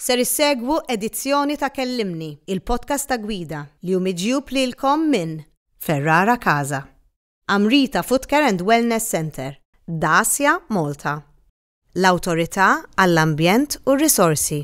Ser issegwu edizzjoni ta' Kellimni, il-podcast ta' Gwida, li hu miġjub lilkom minn Ferrara Casa, Amrita Footcare and Wellness Centre, Dacia Malta, l-Awtorità għall-Ambjent u r-Risorsi,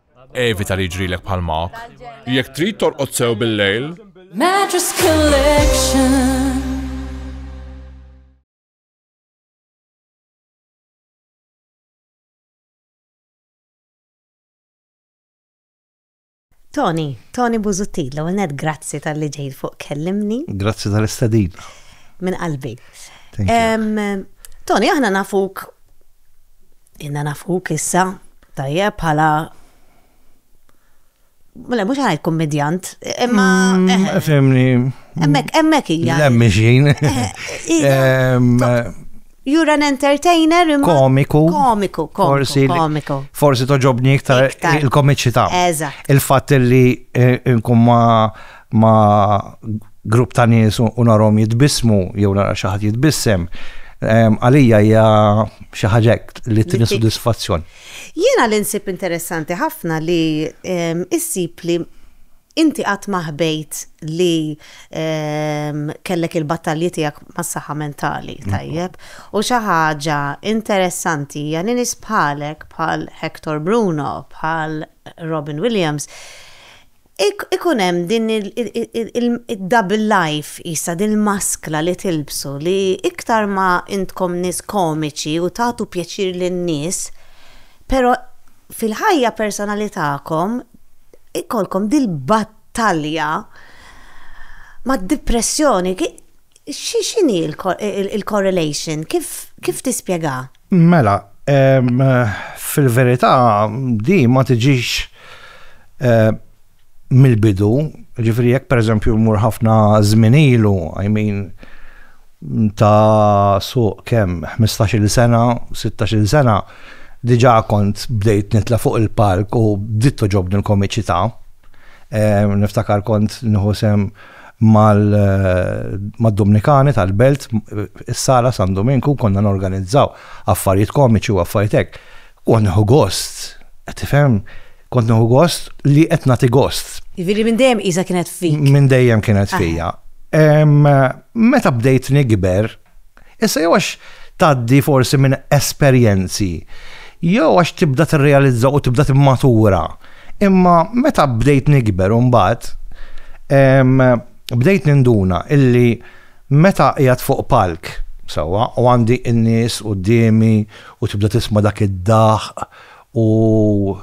Evita li jiġrilek bħal Mark. Jekk trid torqod sew bil-lejl, Mattress Collection. Tony, Tony Buzuttil, l net grazzi tal-li ġejt fuq kellimni. Grazzi tal-istadin. Min qalbi. Tony, aħna nafuk Inna nafuk issa, tajjeb, bħala Le, mhux ħajt kummedjant, imma mm, eh, eh. Fimni. Hemmhekk hemmhekk hija. Lemmi xejn. You're an entertainer imma. Komiku. Komiku, forsi. Komiku. Forsi toġobni iktar il-komiċità. Eżatt. Il-fatt li eh, nkun ma ma' grupp ta' nies u narhom jitbissmu jew nara xi ħadd jitbissem, għalija hija xi ħaġa li tini sodisfazzjon. Jiena li nsib interessanti ħafna li issib li inti qatt ma ħbejt li kellek il-battalji tiegħek mas-saħħa mentali, tajjeb? U xi ħaġa interessanti hija li nies bħalek, bħal Hector Bruno, bħal Robin Williams, Ikun hemm din id-double life qisha, din il-maskra li tilbsu li iktar ma intkom nies komiċi u tagħtu pjaċir lin-nies, però fil-ħajja personali tagħkom ikollkom dil-battalja mad-dipressjoni. X'inhi l-correlation? Kif tispjegha? Mela, fil-verità di ma tiġix mill-bidu, ġifieri jekk pereżempju mmur ħafna żmien ilu, I mean ta' suq kemm, ħmistax-il sena, sittax-il sena, diġà kont bdejt nitla' fuq il-palk u bdiet togħġobni l-komiċità. Niftakar kont nieħu sehem mad-Dumnikani tal-Belt, is-Sala San Duminku, konna norganizzaw affarijiet komiċi u affarijiet hekk. Kont nieħu gost, qed tifhem? Kont nieħu gost li qed nagħti gost. Jiġifieri minn dejjem qisha kienet fik. Minn dejjem kienet fija. Meta bdejt nikber, Issa jew għax tgħaddi forsi minn esperjenzi, jew għax tibda tirrealizza u tibda timmatura. Imma meta bdejt nikber u mbagħad bdejt ninduna illi meta qiegħed fuq palk sewwa u għandi n-nies quddiemi u tibda tisma' dak id-daħq u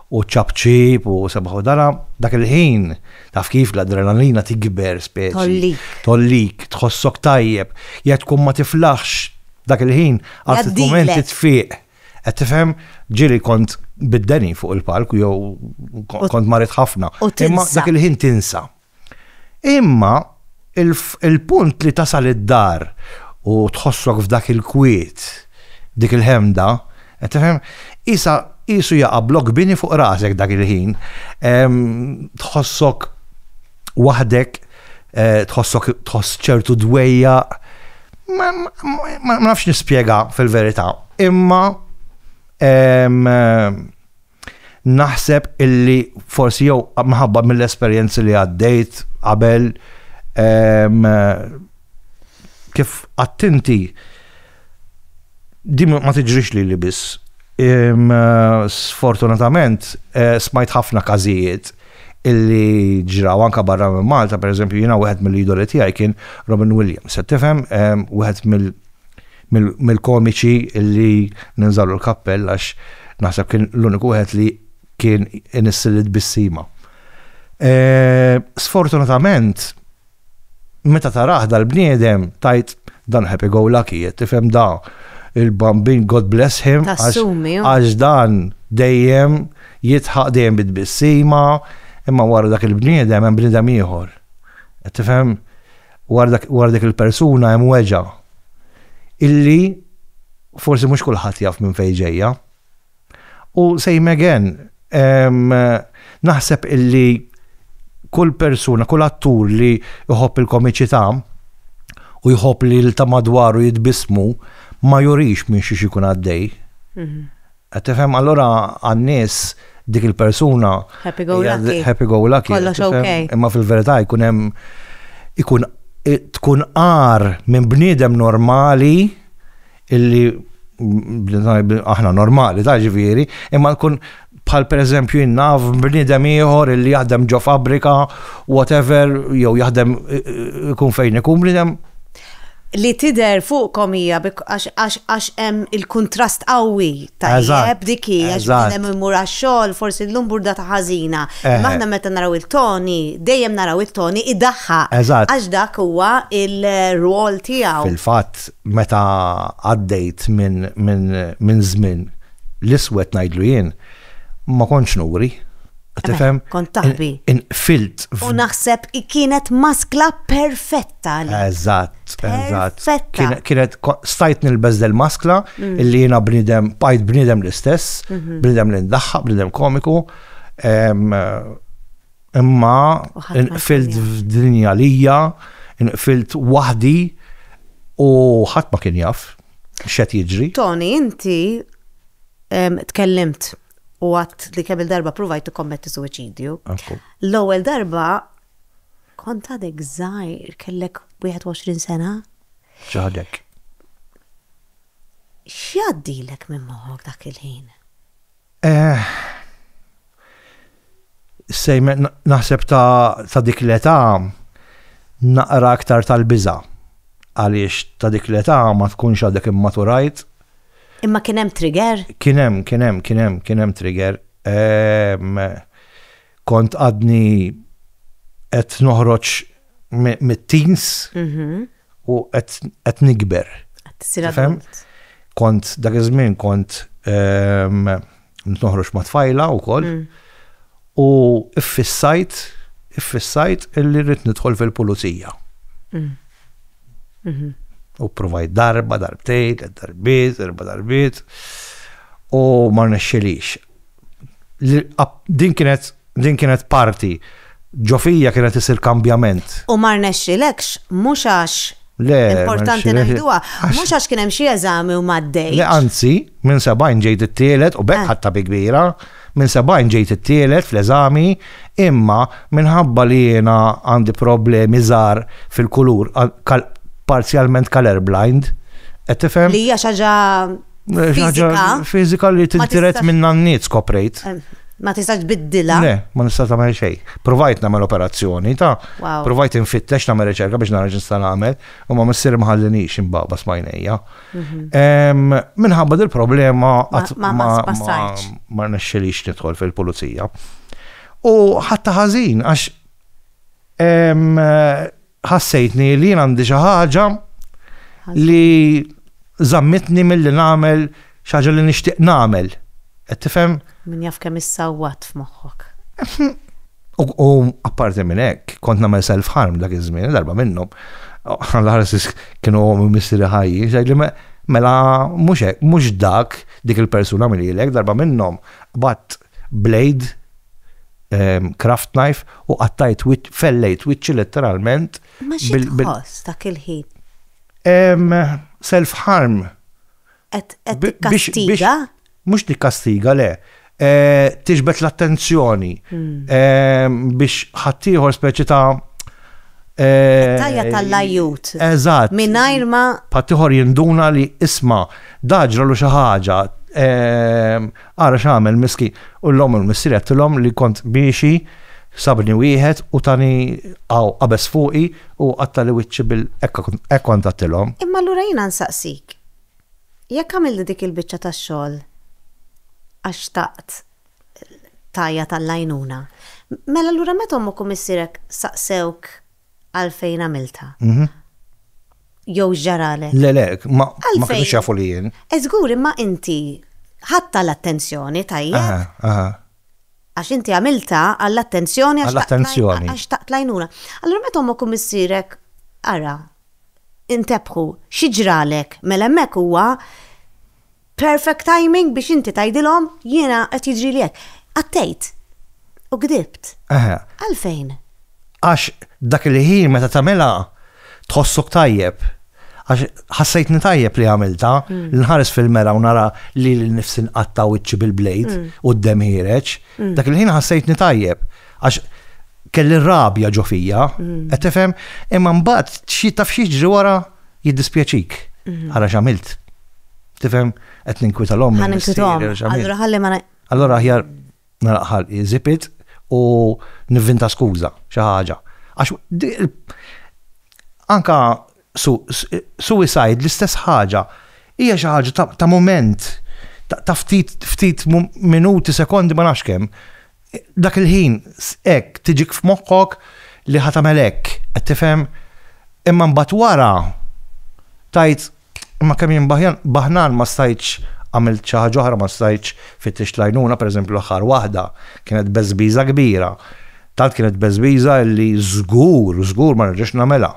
u ċ-ċapċip u sabaħ u dara, dak il-ħin, taf kif, l-adrenalina tikber speċi. Tgħollik. Tgħollik, tħossok tajjeb. Jekk tkun ma tiflaħx dak il-ħin, għal ftit mumenti tfieq. Qed tifhem? Ġieli kont bid-deni fuq il-palk jew kont marid ħafna. Imma dak il-ħin tinsa. Imma il-punt li tasal id-dar u tħossok f'dak il-kwiet, dik il-ħemda, qed tifhem, qisha qisu jaqa' blokk bini fuq rasek dak il-ħin. Tħossok waħdek, tħossok tħoss ċertu dwejjaq. Ma nafx nispjega fil-verità, imma Naħseb illi forsi jew minħabba mill-esperjenzi li għaddejt qabel ehm, kif attinti din ma tiġrix li li biss. Ehm, sfortunatament eh, smajt ħafna każijiet illi ġraw anka barra minn Malta, per eżempju, jina wieħed mill-idoli tiegħi kien Robin Williams. Se tifhem, ehm, wieħed mill- mill-komiċi li ninżallu l-kappell għax naħseb kien l-uniku wieħed li kien inissil it-tbissima. Sfortunatament, meta tarah dal-bniedem tajt dan happy go lucky, tifhem da il-bambin God bless him għax dan dejjem jitħaq dejjem bit-tbissima imma wara dak il-bniedem hemm bniedem ieħor. Tifhem? wara dik il-persuna hemm weġgħa illi forsi mhux kulħadd jaf minn fejn ġejja. U same again, naħseb illi kull persuna, kull attur li jħobb il-komiċità u jħobb li l-ta' madwaru jitbismu ma jurix minn xiex ikun għaddej. Mhm. Qed tifhem allura għan-nies dik il-persuna Happy go hija lucky. happy go lucky. Kollox tifhem? okay. Imma fil-verità jkun hemm ikun i- tkun għar minn bniedem normali illi bniedem- aħna normali ta' ġifieri, imma tkun bħal pereżempju jien naf bniedem ieħor illi jaħdem ġo fabbrika whatever jew jaħdem i- i- ikun fejn ikun bniedem li tidher fuqkom hija għax hemm il-kuntrast qawwi tajjeb dik hi għax bniedem imur għax-xogħol forsi llum burdata ħażina. Imma aħna meta naraw il-Tony dejjem naraw it-Tony idaħħaq għax dak huwa l-rwol tiegħu. Fil-fatt meta għaddejt minn żmien l-iswed ngħidlu jien ma kontx nuri. Tifhem? Kont taħbi. Inqfilt. U naħseb kienet maskla perfetta li. Eżatt, eżatt. Perfetta. Kienet stajt nilbeż del maskla mm. illi jiena bnidem, bajt bnidem l-istess, mhm. bnidem li ndaħħaq, bnidem komiku. Imma inqfilt f'dinja lija, inqfilt waħdi u ħadd ma kien jaf x'qed jiġri. Tony, inti tkellimt u għat li kemm il-darba provajt tikkommetti suwiċidju. L-ewwel darba kont għadek żgħir kellek 21 sena. Ġaħdek. X'għaddilek minn moħħok dak il-ħin? Eh, sejm naħseb ta' dik l-età naqra aktar tal-biża għaliex ta' dik l-età ma tkunx għadek immaturajt. Imma kien hemm trigger? Kien hemm, kien hemm, kien hemm, kien hemm trigger. Ehm, kont għadni qed noħroġ mit-teens mhm. u qed nikber. Kont dak iż-żmien kont ehm, noħroġ ma' tfajla wkoll mm. u iffissajt iffissajt illi rrid nidħol fil-pulizija. Mm. Mhm. U provaj darba, darbtejt, darbiet, darba darbiet u ma nexxilix. Din kienet Din kienet parti. Ġo fija kienet isir kambjament. U ma rnexxilekx, mhux għax Le, importanti ma rnexxilekx. ngħiduha, Għax- mhux għax kien hemm xi eżami u m'għaddejtx. Le anzi, minn 70 ġejt it-tielet u b'hekk Eh. ħadtha bi kbira. Minn 70 ġejt it-tielet fl-eżami, imma minħabba li jiena għandi problemi żgħar fil-kulur, għal- kal- parzjalment colour blind, qed tifhem? Li hija xi ħaġa Fizika li tintiret minn nanniet skoprejt. Eh, ma tistax biddila. Le, ma nistax tagħmel xejn. Provajt nagħmel operazzjoni ta' provajt infittex nagħmel riċerka biex nara x'nista' nagħmel u ma missier mħallinix imbaba smajnejja. Mhm. Minħabba dil problema ma nexxilix nidħol fil-pulizija. U ħatta ħażin għax ħassejtni li jien għandi xi ħaġa li zammitni mill-li nagħmel xi ħaġa li nixtieq nagħmel. Qed tifhem? Min jaf kemm issawwat f'moħħok. U apparti minn hekk, kont nagħmel self-harm dak iż-żmien, darba minnhom. Għal-ħarsis kienu għom missiri ħajji, xajli mela mhux dak dik il-persuna minn darba minnhom, bat blade, craft knife u qattajt fellejt wiċċi letteralment. Ma xi tħoss dak il-ħin? Self harm. Qed tikkastiga? Mhux tikkastiga le. Eh, tiġbed l-attenzjoni hmm. eh, biex ħaddieħor speċi ta' eh, Tajja tal-lajut. Eżatt. Minajr ma. Patiħor jinduna li isma, daġra lu xaħġa, Ara x'għamel miskin. U l-omm u l-missier għedtilhom li kont miexi, sabni wieħed u tani hawn qabeż fuqi u qattali wiċċi bil. Hekk kont għedtilhom. Imma allura jiena nsaqsik, jekk għamilt dik il-biċċa tax-xogħol għax xtaqt tgħajjat għall-għajnuna, mela allura meta ommok u missierek saqsewk għalfejn għamiltha. Jew x'ġaralek. Le, le, ma kinux jafu li jien. E żgur imma inti ħatta l-attenzjoni tajjeb. Għax inti għamilta għall-attenzjoni għax għall-attenzjoni. Għax taqt lajnuna. Allura meta ommok u missierek ara, intebħu, xi ġralek, mela hemmhekk huwa Perfect timing biex inti tgħidilhom jiena qed jiġrili hekk. Għattejt. U gdibt. Eħe. Għalfejn? Għax dak il-ħin meta tagħmilha tħossok tajjeb. Għax ħassejtni tajjeb li għamilta, mm. li nħares fil-mera u nara li l-nifsi nqatta wiċċi bil-blejt mm. u d-dem ħireċ, mm. dak il-ħin ħassejtni tajjeb. Għax kelli rabja ġo fija, mm. qed tifhem, imma mbagħad xi taf xi ġri wara jiddispjaċik mm-hmm. għala x'għamilt. Tifhem qed ninkwita l-omm. Ħa ninkwitom. Allura ħalli ma Allura aħjar naraqħal iżipit u nivvinta skuża xi ħaġa. Għax anka Suicide l-istess ħaġa, hija xi ħaġa ta' mument, ta' ftit minuti, sekondi ma nafx kemm. Dak il-ħin hekk tiġik f'moħħok li ħa tagħmel hekk, qed tifhem? Imma mbagħad wara tgħid imma kemm jien baħnan ma stajtx għamilt xi ħaġa oħra, ma stajtx fittixt l-għajnuna, pereżempju l-aħħar waħda kienet beżbiża kbira. Tant kienet beżbiża li żgur, żgur ma nerġax nagħmilha.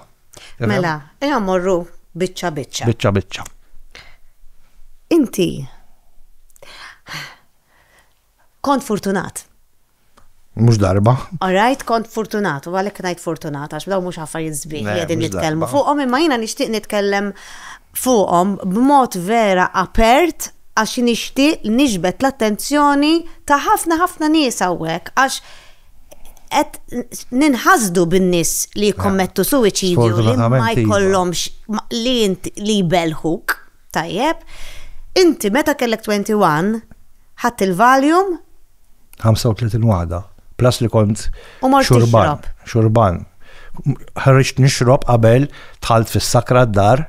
Mela, eja morru biċċa biċċa. Biċċa biċċa. Inti kont fortunat. Mux darba. Alright, kont fortunat, u għalek najt fortunat, għax daw mux għaffar jizbih li għedin nitkellmu fuqom, imma jina nishtiq nitkellem fuqom b'mod vera apert għax nishtiq nixbet l-attenzjoni ta' ħafna ħafna nies għawek, għax qed ninħasdu bin-nies li jikkommettu suwiċidju li ma jkollhomx li li jbelħuk, tajjeb. Inti meta kellek 21 ħadd il-Valium 35 wada, plus li kont xurban, xurban. Ħarġt nixrob qabel tħalt fis-sakra d-dar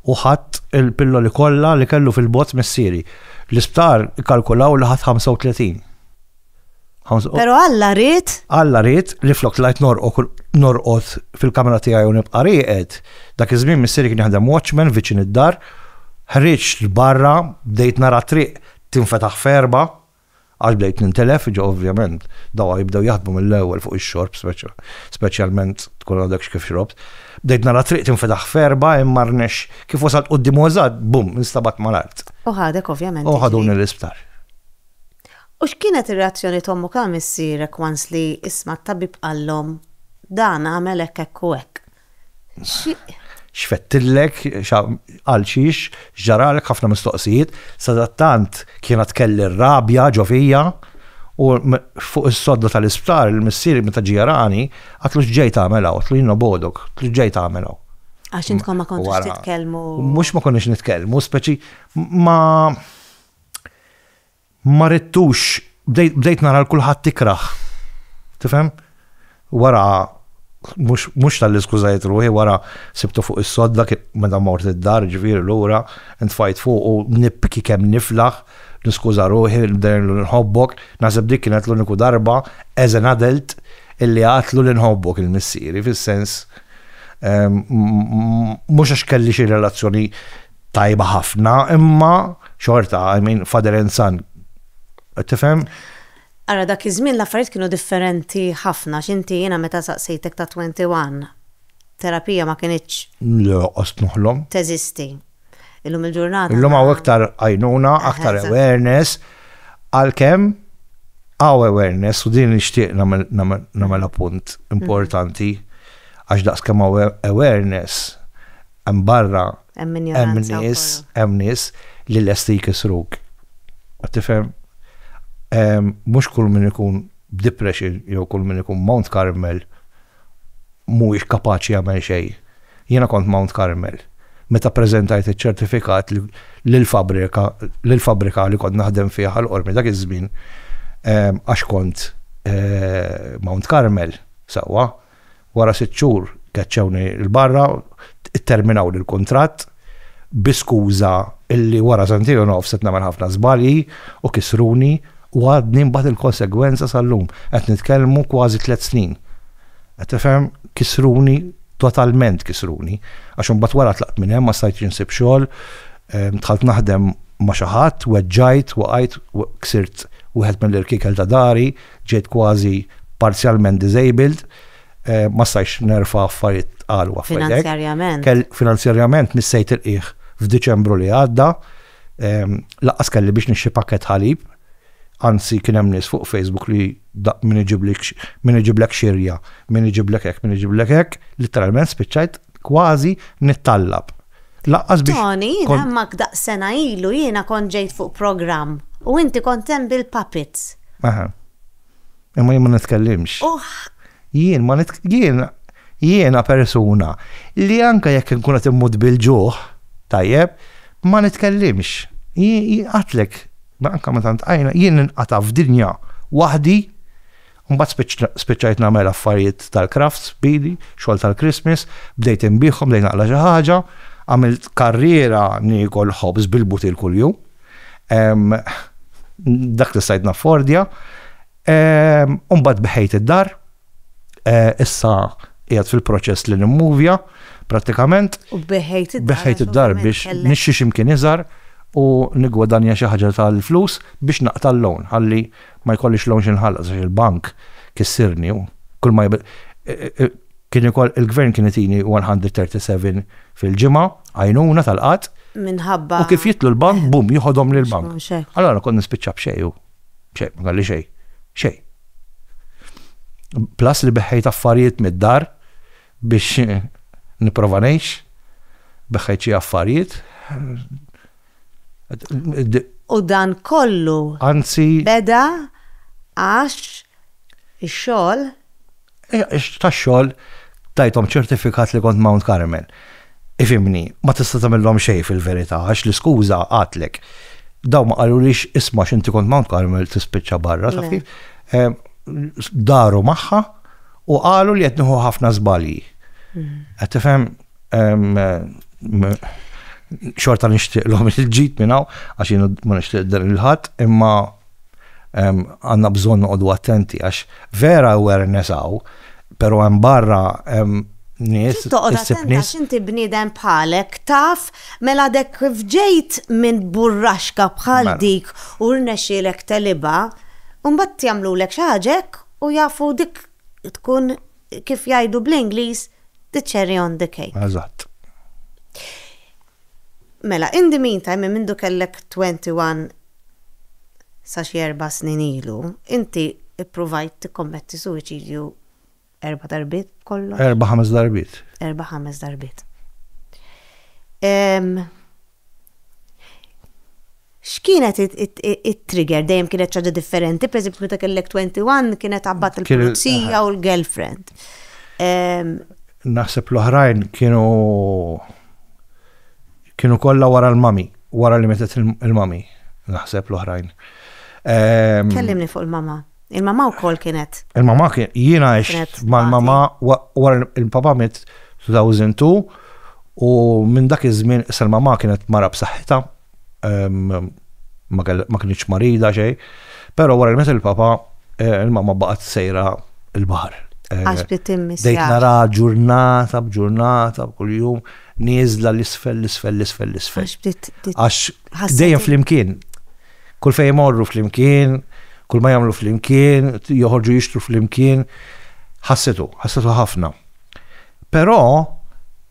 u ħadd il-pilloli kollha li kellu fil-bot missieri. L-isptar kalkulaw li ħadd 35. Pero Alla rrit? Alla rrit li flok lajt norqot fil-kamra tijaj u nibqa riqed. Dak iż-żmien missiri kien jaħdem watchman viċin id-dar. Ħriġt l-barra, bdejt nara triq tinfetaħ ferba, għax bdejt nintilef, ġo ovvjament, dawa jibdew jaħdmu mill-ewwel fuq ix-xorb, speċjalment tkun għadek x'kif xrobt. Bdejt nara triq tinfetaħ ferba, imma rnex kif wasalt qudiem użad, bum, instabat mal-art. U ħadek ovvjament. U ħaduni l-isptar. U x'kienet ir-reazzjoni t'ommok għal missierek once li isma' t-tabib qallhom dan għamel hekk hekk u hekk? Xi. X'fettillek, għal xiex, x'ġaralek, ħafna mistoqsijiet. Sadattant kienet kelli r-rabja ġo fija u fuq is-sodda tal-isptar missieri meta ġie jarani għatlu x'ġej tagħmel hawn, għatlu jien nobogħdok, għatlu x'ġej tagħmel hawn. Għax intkom ma kontux titkellmu. Mhux ma konniex nitkellmu, speċi ma. Ma ridtux, bdejt nara l kulħadd ikrah. Tifhem? Wara mhux talli skużajt ruħi, wara sibtu fuq is-sodda meta mort id-dar, ġifieri lura, ntfajt fuqu nibki kemm niflaħ, niskuża ruħi, nibdejlu li nħobbok, naħseb dik kienet l-uniku darba as an adult illi għadtlu li nħobbok il-missieri, fis-sens mhux għax kelli xi relazzjoni tajba ħafna, imma xorta, I mean, father and son. Tifhem? Ara dak iż-żmien l-affarijiet kienu differenti ħafna x'inti jiena meta saqsejtek ta' 21 terapija ma kinitx. Le, qost noħlom. Teżisti. Illum il-ġurnata. Illum hawn iktar għajnuna, aktar awareness, għalkemm hawn awareness u din nixtieq nagħmel appunt importanti għax daqskemm hawn awareness Hemm barra hemm nies, hemm nies li lesti jkisruk. Tifhem? Mhux kull min ikun b'depression jew kull min ikun Mount Carmel mhuwiex kapaċi jagħmel xejn. Jiena kont Mount Carmel. Meta ppreżentajt iċ-ċertifikat lill-fabbrika lill-fabbrika li kont naħdem fiha ħal qormi dak iż-żmien għax kont Mount Carmel sewwa. Wara sitt xhur keċċewni 'l barra, itterminawli l-kuntratt bi skuża illi wara sentejn u nofs qed nagħmel ħafna żbalji u kisruni u għadni nbati l-konsegwenza sal-lum. Qed nitkellmu kważi tliet snin. Qed tifhem? Kisruni, totalment kisruni. Għax imbagħad wara tlaqt minn hemm, ma stajtx insib xogħol, dħalt naħdem ma' xi ħadd, weġġajt, waqajt, ksirt wieħed mill-irkiekel ta' dari, Ġejt kważi parzjalment disabled, ma stajtx nerfa' affarijiet tqal u affarijiet hekk. Finanzjarjament. Finanzjarjament missejt il-qiegħ f'Diċembru li għadda. Lanqas kelli biex nixtri pakkett ħalib, anzi kien hemm nies fuq Facebook li min iġiblek xirja, min iġiblek hekk, min iġiblek hekk, litteralment spiċċajt kważi nittallab. Lanqas biex. Toni, jien hemmhekk daqs sena ilu jiena kont ġejt fuq programm u inti kont hemm bil-puppets. Aha. Imma jien ma nitkellimx. U. Jien ma nit. Jien, jiena persuna li anke jekk inkun qed immut bil-ġuħ, tajjeb, ma nitkellimx. Jien, jien għedtlek, anke meta ntqajna, jien ninqata' f'dinja waħdi Mbagħad spiċċajt nagħmel affarijiet tal-crafts b'idi, xogħol tal-Christmas, bdejt inbigħhom lejn aqla xi ħaġa, għamilt karriera niekol ħobż bil-butil kuljum. Dak li stajt naffordja. U mbagħad beħejt id-dar. Issa qiegħed fil-proċess li nimmuvja prattikament. U beħejt id-dar. Beħejt id-dar biex nixxi x'imkien iżgħar u nigwadanja xi ħaġa tal-flus biex naqta' l-loan ħalli Ma jkollix loan x'inħallas għax il-bank kissirni u kull ma Kien ikoll il-Gvern kien itini 137 fil-ġimgħa għajnuna tal-qgħad. Minħabba. U kif jidħlu l-bank, bum, jiħodhom lill-bank. Allura kont nispiċċa b'xejn u b'xejn, ma kelli xejn. Xejn. Plus li beħħejt affarijiet mid-dar biex nipprova ngħix, beħħejt xi affarijiet. U dan kollu beda għax ix-xogħol? Tax-xogħol tajthom ċertifikat li kont Mount Carmel. Ifhimni, ma tista' tagħmilhom xejn fil-verità għax l-iskuża għadlek. Dawn ma qalulix isma' għax inti kont Mount Carmel tispiċċa barra, taf kif? Daru magħha u qalu li qed nieħu ħafna żbalji. Qed tifhem? xorta nixtieqlhom il-ġid minn hawn għax jien ma nixtieq dan il-ħadd imma għandna bżonn noqogħdu attenti għax vera awareness hawn, però hemm barra hemm nies issib nies. Inti bniedem bħalek taf mela dek kif ġejt minn burraxka bħal mela. dik u rnexxielek telibha, imbagħad jagħmlulek xi ħaġa hekk u jafu dik tkun kif jgħidu bl-Ingliż, the cherry on the cake. Eżatt. Mela, in the meantime, minn mindu kellek 21 sa xi erba' snin ilu, inti ppruvajt tikkommetti suwiċidju erba' darbiet b'kollox? Erba' ħames darbiet. Erba' ħames darbiet. X'kienet it-trigger? Dejjem kienet ċaġa differenti, per eżempju, meta kellek 21 kienet għabbat il-pulizija u l-girlfriend. Naħseb l-oħrajn kienu kienu kollha wara l-mami, wara li metet il-mami, naħseb l-oħrajn. Kellimni fuq il-mama. Il-mamà wkoll kienet. Il-mamà kien jiena għex mal-mamà wara il-papà miet 2002 u minn dak iż-żmien issa l-mamà kienet mara b'saħħitha ma kinitx marida xejn, però wara li miet il-papà il-mamà baqgħet sejra l-baħar. Għax bdiet timmiss. Bdejt nara ġurnata b'ġurnata b'kuljum nieżla l-isfel l-isfel l-isfel l-isfel. Għax bdiet. Għax dejjem flimkien. Kull fejn imorru flimkien, kull ma jagħmlu flimkien, joħorġu jixtru flimkien, ħassitu, ħassitu ħafna. Però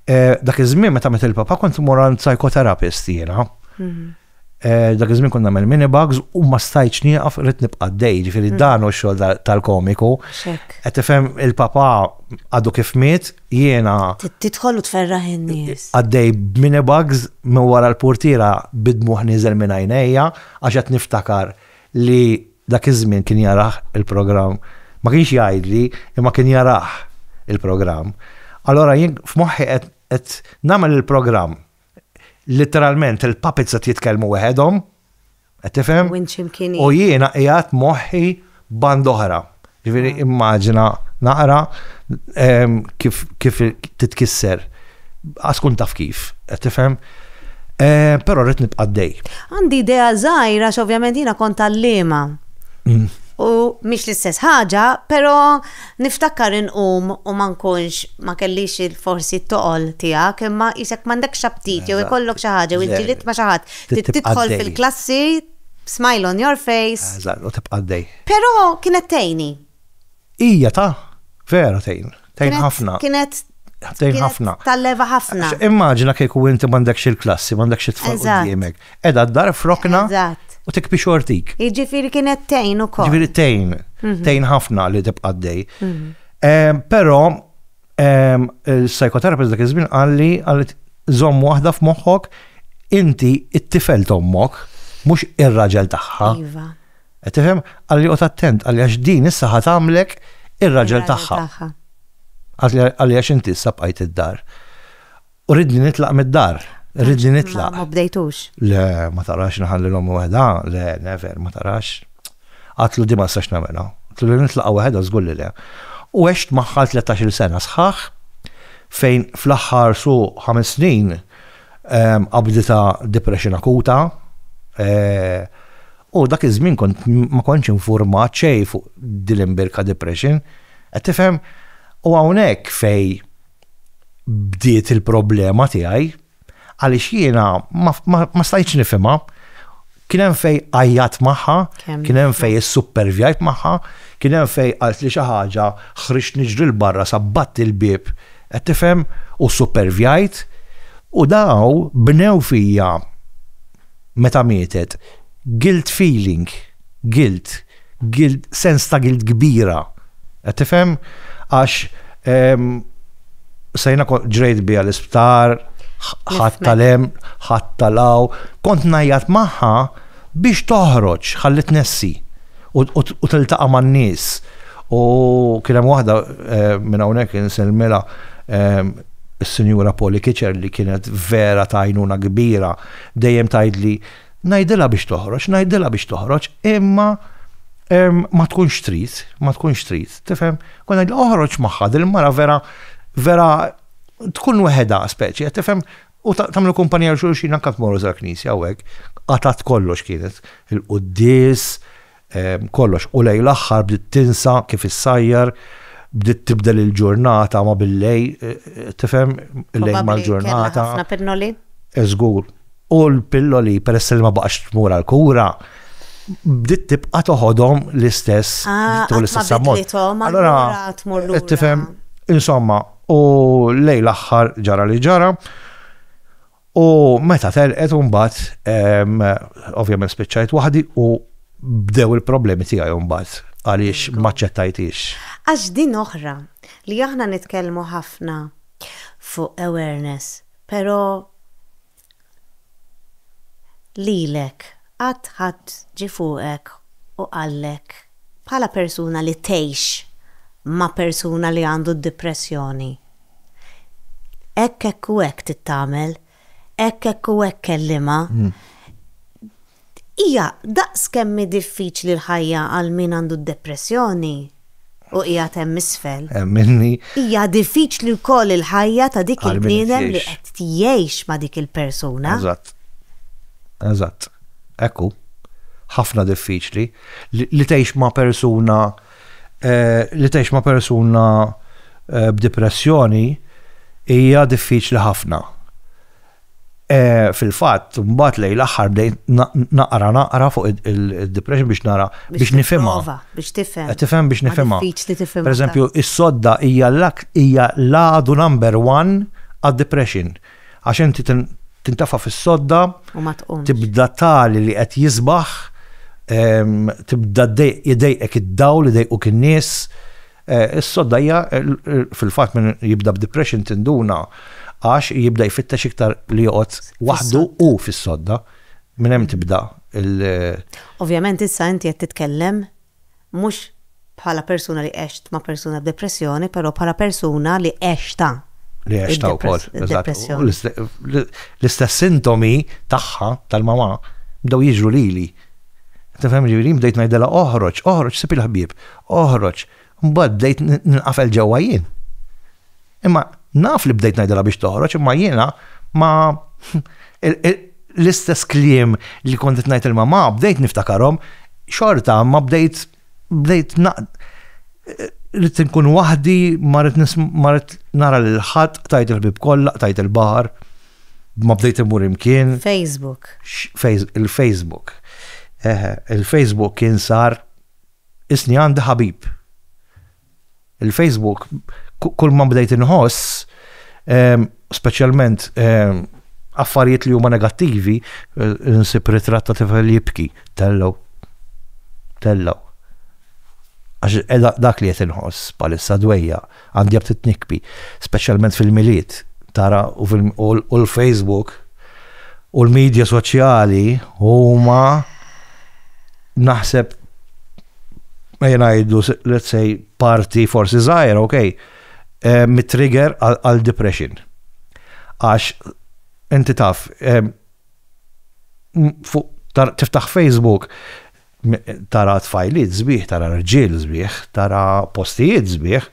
eh, dak iż-żmien meta met il-papa kont imur għand psychotherapist jiena. Mhm. Eh, dak iż-żmien kont nagħmel minibugs u ma stajtx nieqaf rrid nibqa' dej, ġifieri mm. dan u x-xogħol tal-komiku. Qed tifhem il-papa għadu kif miet, jiena. Tidħol u tferraħ in-nies. Għaddej b'mini bags minn wara l-purtiera bid-dmugħ nieżel minn għajnejja għax qed niftakar li dak iż-żmien kien jarah il-programm, ma kienx jgħidli imma kien jarah il-programm. Allura jien f'moħħi qed nagħmel il-programm, litteralment il-puppets qed jitkellmu weħedhom. Qed tifhem? U jiena qiegħed moħħi band oħra. Ġifieri ah. immaġina naqra ehm, kif kif titkisser. Għaskun taf kif, qed tifhem? Eh, però rrid nibqa' dej. Għandi idea żgħira x'ovvjament jiena kont għalliema. Mm. U mhix l-istess ħaġa, però niftakar inqum u ma nkunx ma kellix forsi t-toqol tiegħek, imma isek m'għandekx aptit jew ikollok xi ħaġa u ġilit ma xi ħadd. Trid tibqa' għaddej. Tidħol fil-klassi b'smile on your face. Eżatt, u tibqa' għaddej. Però kienet tgħinni. Hija ta', vera tgħin. Tgħin ħafna. Kienet, kienet, kienet talleva ħafna. Immaġina kieku inti m'għandekx il-klassi, m'għandekx it-tfal quddiemek. Edha d-dar frokna. Eżatt u tikbi xortik. Iġifiri kienet tejn u kol. Iġifiri tejn, mhm. tejn ħafna li tibqa' dej. Mhm. Pero Il-psychotherapist dak iż-żmien qal li qalet żomm waħda f'moħħok inti it-tifel tommok, mhux ir-raġel tagħha. Iva. Qed tifhem qalli qod attent qalli għax din issa ħad għamlek ir-raġel tagħha. Qalli għax inti issa bqajt id-dar. U ridni nitlaq mid-dar, ridni nitlaq. Ma bdejtux. Le, ma tarax naħalli l-om wahda, le, never, ma tarax. Għatlu di ma s-sax namela. Għatlu li nitlaq wahda zgur li le. U għext maħħa 13 sena sħax, fejn fl-axħar su 5 snin qabdita depression akuta, eh, U dak iż-żmien kont ma kontx informat xej fuq dil-imbirka depression. Qed tifhem? U hawnhekk fej bdiet il-problema tiegħi għaliex jiena ma stajtx nifhimha. Kien hemm fej għajjat magħha, kien hemm fej is-supervjajt magħha, kien hemm fej qalt li xi ħaġa ħriġt niġri l-barra sabbat il-bieb qed tifhem u supervjajt u daw bnew fija meta mietet guilt feeling, guilt. Guilt, sens ta' guilt kbira. Qed tifhem? Għax sejna ġrejt biha l-isptar, ħadd tal-hemm, ħadd tal-aw, kont ngħajjat magħha biex toħroġ ħalli tnessi u tiltaqa' man-nies. U kien hemm waħda eh, minn hawnhekk insellmilha eh, is-Sinjura Poli Kiċer li kienet vera tajnuna kbira dejjem tgħidli Ngħidilha biex toħroġ, ngħidilha biex toħroġ, imma ma tkunx trid, ma tkunx trid, tifhem? Kon ngħidilha oħroġ magħha dil-mara vera vera tkun weħedha speċi, tifhem? U tagħmlu kumpanija xulxin anke tmorru żar knisja u hekk. Qatat kollox kienet il-quddis, kollox. U lejn l-aħħar bdiet tinsa kif issajjar, bdiet tibdel il-ġurnata ma billej, tifhem, il-lejl mal-ġurnata. Ħafna pinnoli? Eżgur. U l-pilloli, peress li ma baqax tmur għal-kura, bdiet tibqa' toħodhom l-istess. Ah, l-istess ammont. Allora, tifhem, insomma, u lejl l-aħħar ġara li ġara. U meta telqet mbagħad ovvjament spiċċajt waħdi u bdew il-problemi tiegħi mbagħad għaliex ma ċċettajtix. Għax din oħra li aħna nitkellmu ħafna fuq awareness, però lilek qatt ħadd ġie fuqek u qallek bħala persuna li tgħix ma' persuna li għandu d-dipressjoni, hekk hekk u hekk tittamel, hekk hekk u hekk kellimha. Hija daqs kemm hi diffiċli l-ħajja għal min għandu d-depressjoni u qiegħed hemm isfel. Hija diffiċli wkoll il-ħajja ta' dik il-bniedem li qed tgħix ma' dik il-persuna. Eżatt. Eżatt. Hekk hu. Ħafna diffiċli li tgħix ma' persuna Li tgħix ma' persuna b'dipressjoni hija diffiċli ħafna. Fil-fatt, mbagħad lejn l-aħħar bdejt naqra naqra fuq id-depression biex nara biex nifhimha. Biex tifhem. Eh, tifhem biex nifhimha. Pereżempju, is-sodda hija l-għadu number one għad-depression. Għax inti tintefa' fis-sodda, tibda tali li qed jisbaħ, tibda jdejqek id-dawl, idejquk in-nies. Eh, is-sodda hija fil-fatt minn jibda b'depression tinduna għax jibda jfittex iktar li joqgħod waħdu u fis-sodda. Minn hemm tibda il- Ovvjament issa inti qed titkellem mhux bħala persuna li għext ma' persuna b'depressjoni, però bħala persuna li għextha. Li għextha wkoll. Depressjoni. L-istess sintomi tagħha tal-mama bdew jiġru lili. Tifhem ġifieri bdejt ngħidilha oħroġ, oħroġ sib il-ħbieb, oħroġ. Mbagħad bdejt ninqafel ġewwa jien. Imma naf li bdejt ngħidilha biex toħroġ, imma jiena ma l-istess kliem li kont qed ngħid il-mamma bdejt niftakarhom xorta ma bdejt bdejt rrid inkun waħdi ma rrid nara lil ħadd tajt il-ħbib kollha, tajt il-baħar, ma bdejt imur imkien. Facebook. Il-Facebook. Il-Facebook kien sar isni għandi ħabib. Il-Facebook, kull ma bdejt inħoss, ehm, speċjalment ehm, affarijiet li huma negattivi, eh, nsib ritratt ta' tifel jibki, tellaw. Tellaw. Għax eh, dak li qed inħoss bħalissa dwejja għandi jab titnikbi, speċjalment fil-miliet, tara u l-Facebook u l-medja soċjali huma naħseb jenajdu, let's say, parti forsi zaħir, ok, eh, mit-trigger għal depression. Għax, inti taf, eh, tiftaħ Facebook, tara tfajliet zbieħ, tara rġil zbieħ, tara postijiet zbieħ,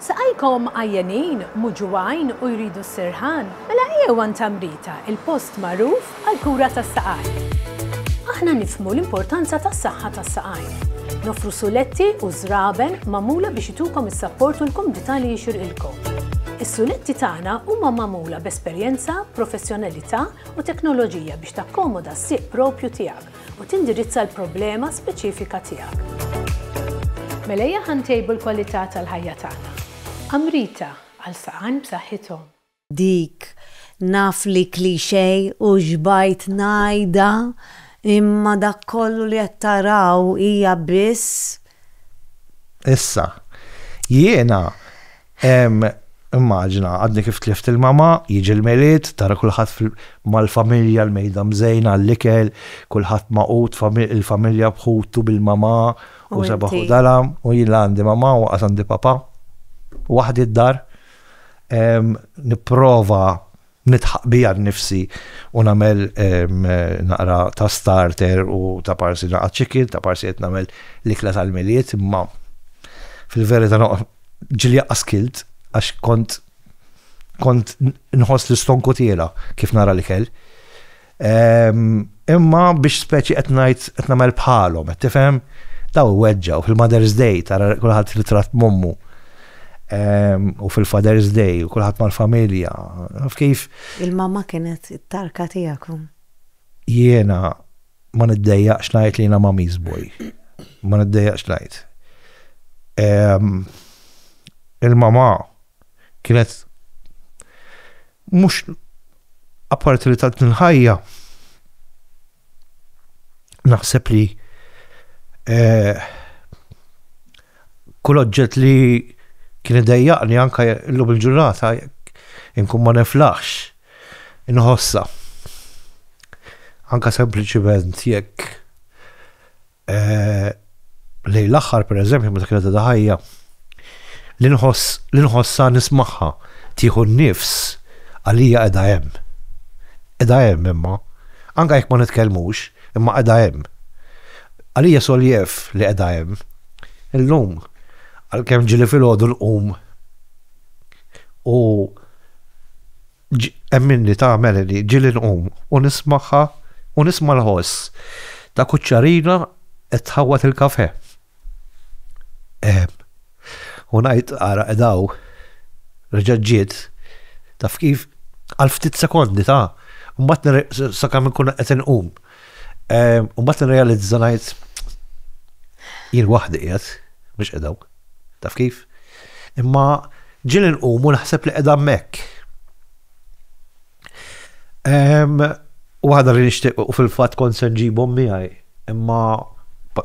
Saqajkom għajjenin, muġugħin u jridu s-sirħan? Mela ejjew għand Tamrita, il-post magħruf għall-kura tas-saqajn. Aħna nifhmu l-importanza tas-saħħa tas-saqajn. Noffru suletti u żraben magħmula biex itukom is-sapport u l-kumdità li jixirqilkom. Is-suletti tagħna huma magħmula b'esperjenza, professjonalità u teknoloġija biex takkomoda s-sieq proprju tiegħek. u tindirizza l-problema speċifika tiegħek. Mela ejja ħa ntejbu l-kwalità tal-ħajja tagħna. Amrita, għal saqajn b'saħħithom. Dik, naf li cliché u xbajt ngħidha, imma dak kollu li qed taraw hija biss. Issa, jiena Immaġina, għadni kif tlift il-mama, jiġi l-Milied, tara kulħadd mal-familja, l-mejda mżejna, l-ikel, kulħadd magħqud, il-familja b'ħutu, bil-mama u seba' ħudalha, u jien la għandi mama u lanqas għandi papa. Waħdi d-dar. Nipprova Nidħaq bija nnifsi u nagħmel naqra ta' starter u ta' parsi naqgħad xi kil, ta' parsi qed nagħmel l-ikla tal-Milied, imma fil-verità ġieli anqas kilt għax kont kont nħoss l-istonku tiela kif nara l-ikel. Imma biex speċi qed ngħid qed nagħmel bħalhom, qed tifhem? Daw weġġaw fil-Mother's Day tara kulħadd li tratt mommu. U fil-Father's Day u kulħadd mal-familja. Kif? Il-mamma kienet it-tarka tiegħek. Jiena ma niddejjaqx ngħid li jiena mommy's boy. Ma niddejjaqx ngħid. Il-mamma kienet Mhux apparti li tatni l-ħajja, naħseb li eh, kull oġġett li kien idejjaqni anka illum il-ġurnata inkun ma neflaħx inħossa. Anka sempliċiment jekk lejn l-aħħar pereżempju meta kienet għadha ħajja li nħoss li nħossha nismagħha tieħu n-nifs għalija qiegħda hemm. Qiegħda hemm imma, anke jekk ma nitkellmux, imma qiegħda hemm. Għalija soljef li qiegħda hemm. Illum għalkemm ġieli filgħodu nqum u Ġ, Hemm minni tagħmel li ġieli nqum u nismagħha u nisma' l-ħoss ta' kuċċarina qed tħawwad il-kafè. Ehm. U ngħid ara qed hawn, reġgħet ġiet, taf kif, għal ftit sekondi ta', u mbagħad nirreqs sakemm inkun qed inqum. U mbagħad nirrealizza ngħid jien waħdi qiegħed mhux qedaw. Taf kif? Imma ġieli nqumu naħseb li qiegħda hemmhekk. U għadha li nixtieq u fil-fatt kont se nġibhom miegħi, imma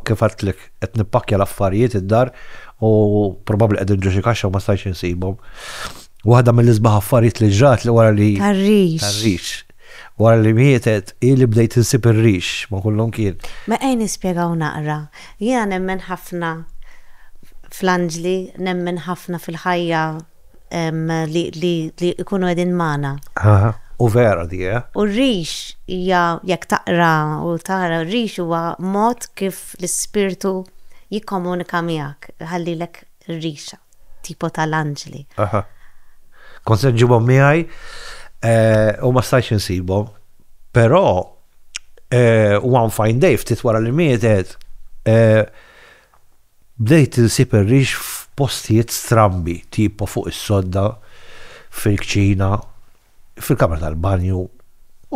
kif għadtlek qed nippakkja l-affarijiet id-dar u probabbli qegħdin ġo xi kaxxa u ma stajtx insibhom. Waħda mill-isbaħ affarijiet li ġrat li wara li. Tarriċ. Tarriċ. Wara li mietet, hi li bdejt insib ir-rix ma' kull imkien. Mela ejn nispjegaw naqra. Jiena nemmen ħafna fl-anġli, nemmen ħafna fil-ħajja li jkunu qegħdin magħna. Aha, u vera di, eh? U r-rix hija, jekk taqra u tara, r-rix huwa mod kif l-ispirtu jikkomunika miegħek, iħallilek ir-rixa. tipo ta' l-anġli. Aha. Kont se nġibhom miegħi eh, u ma stajx insibhom. Però eh, one fine day ftit wara li mietet eh, bdejt insib ir-rix f'postijiet strambi, tipo fuq is-sodda, fil-kċina, fil-kamra tal-banju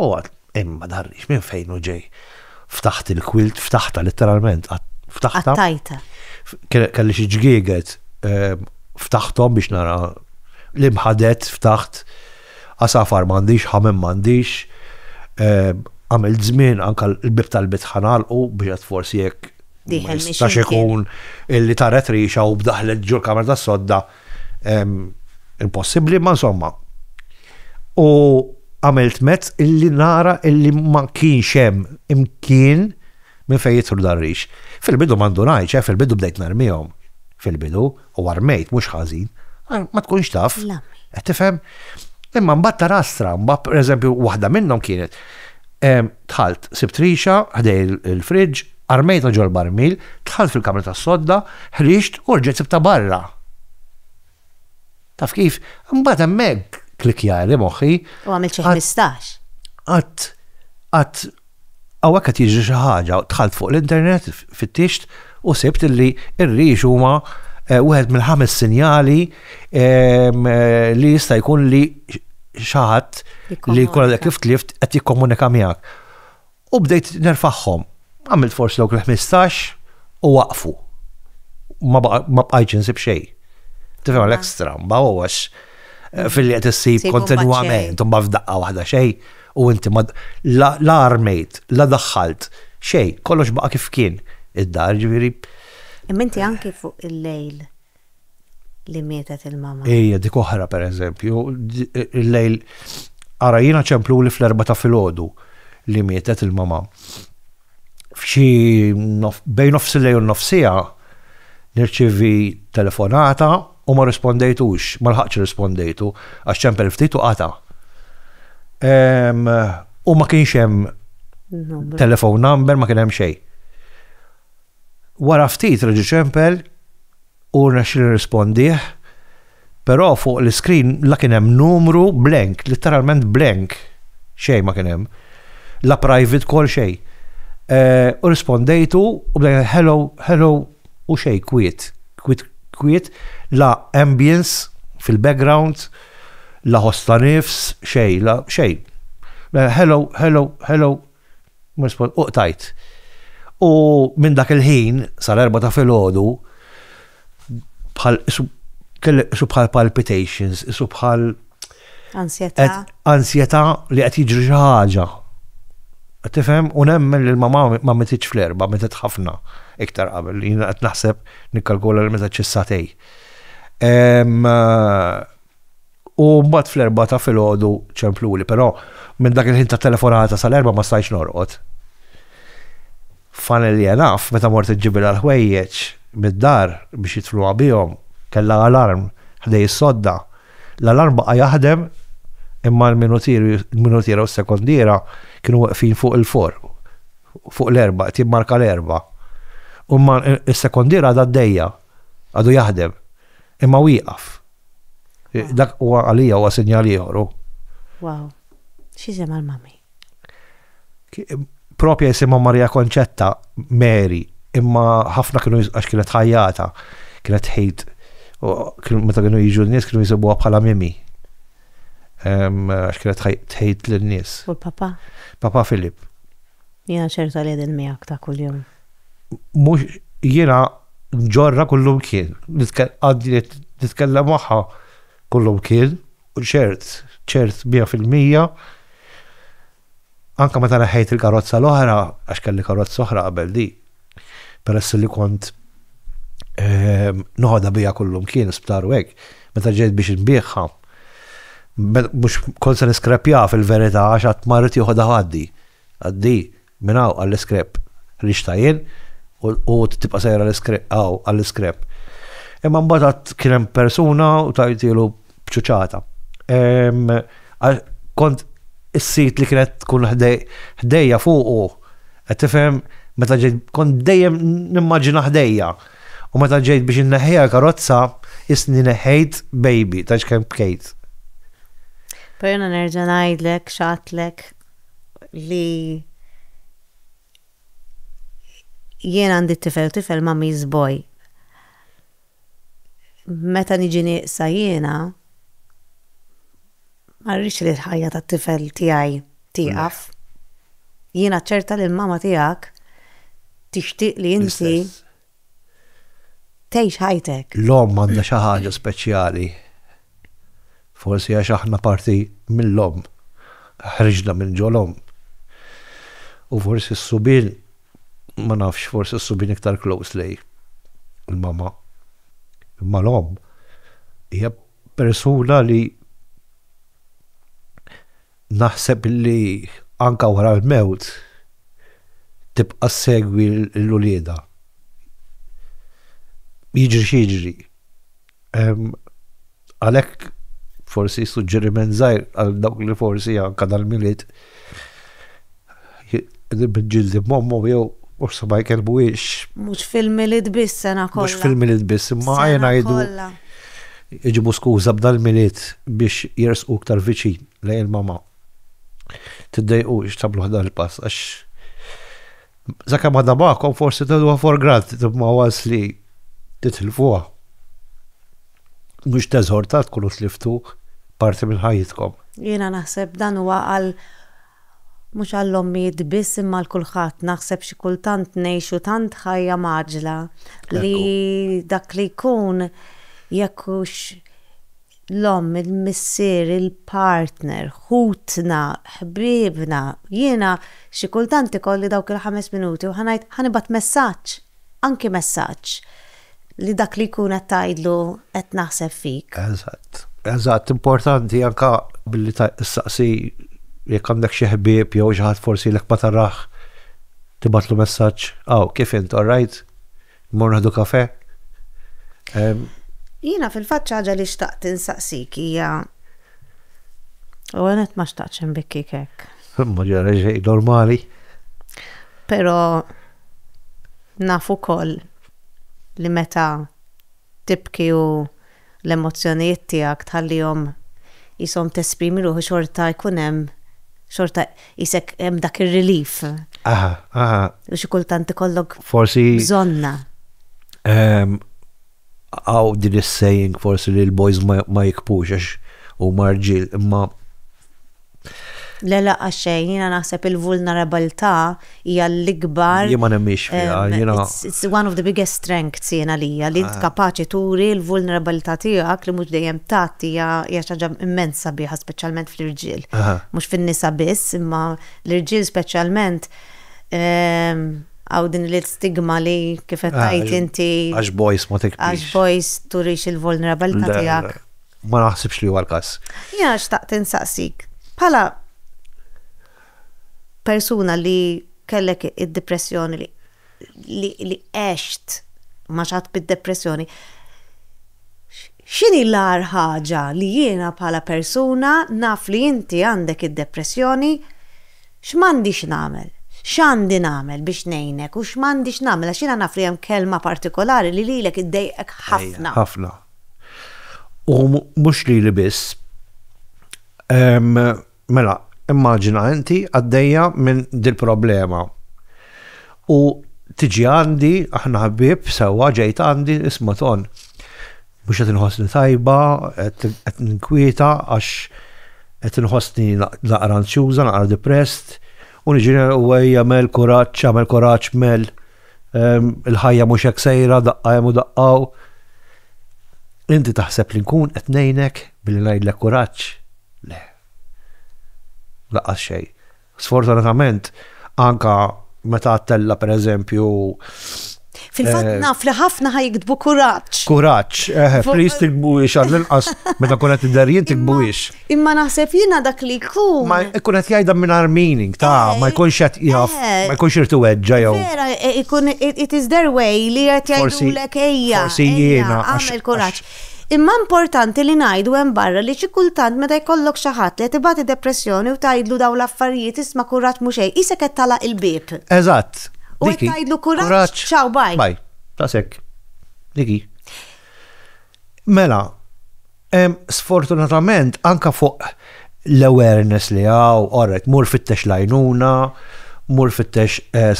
u għad hemm ma darrix minn fejn hu ġej. Ftaħt il-kwilt, ftaħta letteralment, ftaħta. Qattajta. Kelli xi ġgieget ehm, ftaħthom biex nara l-imħadet ftaħt għasafar m'għandix, ħamem m'għandix, ehm, għamil żmien anka l-bib tal-bit ħanalqu biex forsi jekk Tax ikun illi taret rixa u bdaħlet ġur kamra tas sodda impossibbli, ma insomma. U għamilt mezz illi nara illi ma kienx hemm imkien minn fejn jitru darriċ. Fil-bidu ma ndunajċ, eh, fil-bidu bdejt narmihom. Fil-bidu, u armejt, mhux ħażin. Ma tkunx taf. Qed tifhem? Imma mbagħad tara stramba, pereżempju, waħda minnhom kienet tħalt sibt rixa ħdej il-friġġ, Armejta ġol-barmil, dħalt fil-kamra tas-sodda, ħriġt u rġgħet sibtha barra. Taf kif? Imbagħad hemmhekk klikkjali moħħi. U għamilt xi ħmistax. Qatt qatt hawnhekk qed jiġri xi ħaġa, dħalt fuq l-internet, fittixt u sibt li r-rix huma Eh, wieħed mill-ħames sinjali eh, li jista' jkun li xaħat li kolla kif tlift qed jikkomunika miegħek. U bdejt nerfagħhom. Għamilt forsi dawk il-ħmistax u waqfu. Ma bqajtx insib xejn. Tifhem għalhekk stramba u għax eh, fil-li qed issib kontinwament u ma f'daqqa waħda xejn u inti ma la armejt, la daħħalt xejn, kollox baqa' kif kien id-dar ġifieri. Imma inti anki fuq il-lejl li mietet il-mama. Ejja, dik oħra per eżempju, il-lejl ara jiena ċemplu li fl-erba ta' filgħodu li mietet il-mama. F'xi bejn nofs il-lejl u nofsija nirċivi telefonata u ma rispondejtux, ma lħaqx rispondejtu, għax ċempel ftit u qata. U ma kienx hemm telefon number, ma kien hemm xejn. Wara ftit reġa' ċempel u rnexxieli nirrispondih, però fuq l-iskrin la kien hemm numru, blank, litteralment blank, xejn ma kien hemm. La private call xejn. U rrispondejtu u bdejna hello, hello u xejn, kwiet, kwiet, kwiet, la ambience fil-background, la ħoss ta' nifs, xejn, la xejn. Bdejna hello, hello, hello. U qtajt. U minn dak il-ħin sal-erbgħa ta' filgħodu bħal kellek qisu bħal palpitations, qisu bħal Ansjetà. Ansjetà li qed jiġri xi ħaġa. Qed tifhem u nemmen li l-mamà ma mititx fl-erbgħa, mietet ħafna iktar qabel. Jiena qed naħseb nikkalkula li mietet xi satej. U mbagħad fl-erbgħa ta' filgħodu ċempluli, però minn dak il-ħin tat-telefonata sal-erbgħa ma stajtx norqod. Funnily enough, meta mort iġġibilha l-ħwejjeġ mid-dar biex jidfnuha bihom, kellha alarm ħdej is-sodda. L-alarm baqa' jaħdem imma l-minutiera u s-sekondiera kienu weqfin fuq il-four, fuq l-erbgħa, qed jimmarka l-erbgħa. U imma s-sekondiera għadha għaddejja, għadu jaħdem, imma wieqaf. Dak huwa għalija huwa sinjal ieħor. Wow. X'isem għal mami? Propja jisimha Maria Konċetta, Mary, imma ħafna kienu għax kienet ħajjata, kienet ħejt, meta kienu jiġu n-nies kienu jisibuha bħala mimi. Għax kienet ħejt l-nies. U l-papa? Papa Filip. Jiena ċerta li qegħdin miegħek ta' kuljum. Mhux jiena nġorrha kullimkien, għandi nitkellem magħha kullimkien u ċert, ċert mija fil-mija, anke meta neħħejt il-karozza l-oħra, għax kelli karozza oħra qabel dik, peress li kont noħodha bija kullum kien sptar u hekk, meta ġejt biex inbiegħha, mhux kont se niskrepja fil-verità għax qatt ma rrid joħodha ħaddi. Għaddi minn hawn għall-iskrep. Rixtha jien u tibqa' sejra hawn għall-iskrep. Imma mbagħad għad kien hemm persuna u tajtielu bċuċata. Kont is-sit li kienet tkun ħdejja fuqu, qed tifhem meta ġejt kont dejjem nimmaġina ħdejja. U meta ġejt biex inneħħiha karozza, isni neħħejt baby ta' x'kemm bkejt. Perna nerġa' ngħidlek xatlek li jien għandi tifel tifel ma' miżboj. Meta niġi nieqsa jiena, ma rridx li l-ħajja tat-tifel tiegħi tieqaf. Jiena ċerta li l-mama tiegħek tixtieq li inti tgħix ħajtek. L-omm għandha xi ħaġa speċjali. Forsi għax aħna parti mill-omm, ħriġna minn ġol-omm. U forsi s-subien. ma nafx, forsi s-subien iktar close lej il-mamma. Imma l-omm hija persuna li naħseb li anka wara l-mewt tibqa' ssegwi l-uliedha. Jiġri x'jiġri. Għalhekk forsi suġġeriment żgħir għal dawk li forsi anke dal-Milied qegħdin bil-ġildi b'mommu jew forsi ma jkellmuhiex. Mhux fil-Milied biss sena kollha. Mhux fil-Milied biss, imma ejja ngħidu iġibu skuża b'dal-Milied biex jersqu iktar viċin lejn il-mama. Tiddejqux tagħmluh dan il-pass għax. Zakemm għadha magħkom forsi tgħiduha for granted imma once li titilfuha. Mhux teżor ta' tkunu tliftu parti minn ħajjitkom. Jiena naħseb dan huwa għal mhux għall-ommijiet biss imma għal kulħadd. Naħseb xi kultant ngħixu tant ħajja mgħaġġla li dak li jkun jekk hux l-omm, il-missier, il-partner, ħutna, ħbiebna, jiena xi kultant ikolli dawk il-ħames minuti u ħa ngħid ħa nibgħat messaġġ, anki messaġġ, li dak li jkun qed tgħidlu qed naħseb fik. Eżatt. Eżatt, importanti anke billi ssaqsi jekk għandek xi ħbieb jew xi ħadd forsi lek ma tarah tibgħatlu messaġġ, Aw, kif int, all right? Mmorru nieħdu kafè? Jiena fil-fatt xi ħaġa li xtaqt insaqsik hija L-ewwel nett ma xtaqtx inbikkik hekk. Ma ġara xejn, normali. Però naf ukoll li meta tibki u l-emozzjonijiet tiegħek tħallihom qishom tesprimi ruħu xorta jkun hemm xorta qisek hemm dak ir-relief. Aha, aha. U xi kultant ikollok forsi bżonna. Ehm, għaw din is-saying forsi li l-boys ma jikpux għax huma rġiel imma Le le għax xejn, jiena naħseb il-vulnerabilità hija l-ikbar. Jien ma nemmiex fiha, jiena. It's one of the biggest strengths jiena lija li int kapaċi turi l-vulnerabilità tiegħek li mhux dejjem tgħatti hija xi ħaġa immens sabiħa speċjalment fl-irġiel. Mhux fin-nisa biss, imma l-irġiel speċjalment hawn din l-istigma li kif qed tgħid inti. Għax boys ma tikbrix. Għax boys turix il-vulnerabilità tiegħek. ma naħsibx li huwa l-każ. Jiena xtaqt insaqsik, bħala persuna li kellek id-depressjoni li li għext ma xat bid-depressjoni, x'inhi l-agħar ħaġa li jiena bħala persuna naf li inti għandek id-depressjoni x'm'għandix nagħmel? X'għandi nagħmel biex ngħinek u x'm'għandix nagħmel għax jiena naf li hemm kelma partikolari li lilek iddejqek ħafna. Ħafna. U mhux lili biss. Ehm, mela, immaġina inti għaddejja minn dil-problema. U tiġi għandi, aħna ħbib, sewwa ġejt għandi, isma' ton. Mhux qed inħossni tajba, qed ninkwieta għax qed inħossni naqra anzjuża, naqra depressed, u niġi u ejja mel kuraġġ, għamel kuraġġ mel. Il-ħajja mhux hekk sejra, daqqa hemm u daqqa hawn. Inti taħseb li nkun qed ngħinek billi ngħidlek kuraġġ? Le. Laqqas xejn. Sfortunatament, anka meta għattella per eżempju Fil-fatt eh, naf li ħafna ħaj jiktbu kuraġġ. Kuraġġ, eh, please tikbu ix għall-inqas meta kunet id-darjien tikbu ix. Imma naħseb jiena dak li jkun. Ma jkun qed jgħidha mingħajr meaning ta' eh, ma jkunx qed jaf, eh. ma jkunx irtu weġġa jew. Vera, eh, ikun it is their way li qed jgħidulek ejja. Forsi jiena għamel kuraġġ. Imma importanti li ngħidu hemm barra li xi kultant meta jkollok xi ħadd li qed ibati depressjoni u tgħidlu dawn l-affarijiet isma' kuraġġ mhux xejn, isek qed talaq il-bieb. Eżatt. U qed tgħidlu kuraġġ, ċaw baj. Baj, ta' sekk. Diki. Mela, sfortunatament anka fuq l-awareness li għaw, orret, mur fittex lajnuna, mur fittex eh,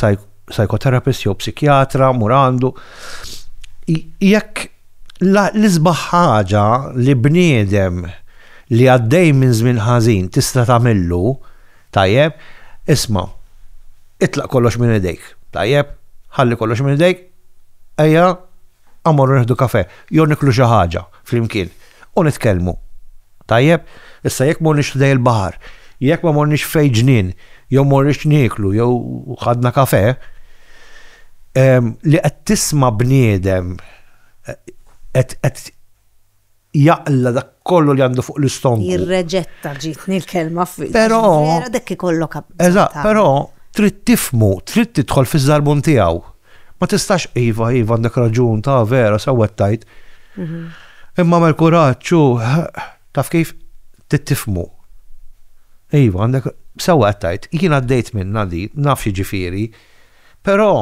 psychotherapist jew psikjatra, mur għandu. Jekk l-isbaħ ħaġa li bniedem li għaddej minn żmien ħażin tista' tagħmillu, tajjeb, isma' itlaq kollox minn idejk, tajjeb, ħalli kollox minn idejk, ejja Aw morru nieħdu kafè, jew niklu xi ħaġa flimkien u nitkellmu. Tajjeb? Issa jekk morniex ħdejn il-baħar, jekk ma morniex f'fejn ġnien, jew morniex nieklu jew ħadna kafè, li qed tisma' bniedem qed jaqla' dak kollu li għandu fuq l-istonku. Jirreġetta ġietni l-kelma f'. Però. Vera dak ikollok. Eżatt, però trid tifhmu, trid tidħol fiż-żarbun tiegħu. Ma tistax iva, iva għandek raġun, ta' vera sew qed tgħid. Imma għamel kuraġġ u taf kif trid tifhmu. Iva għandek sew qed tgħid, jien għaddejt minnha din, naf x'jiġifieri. Però,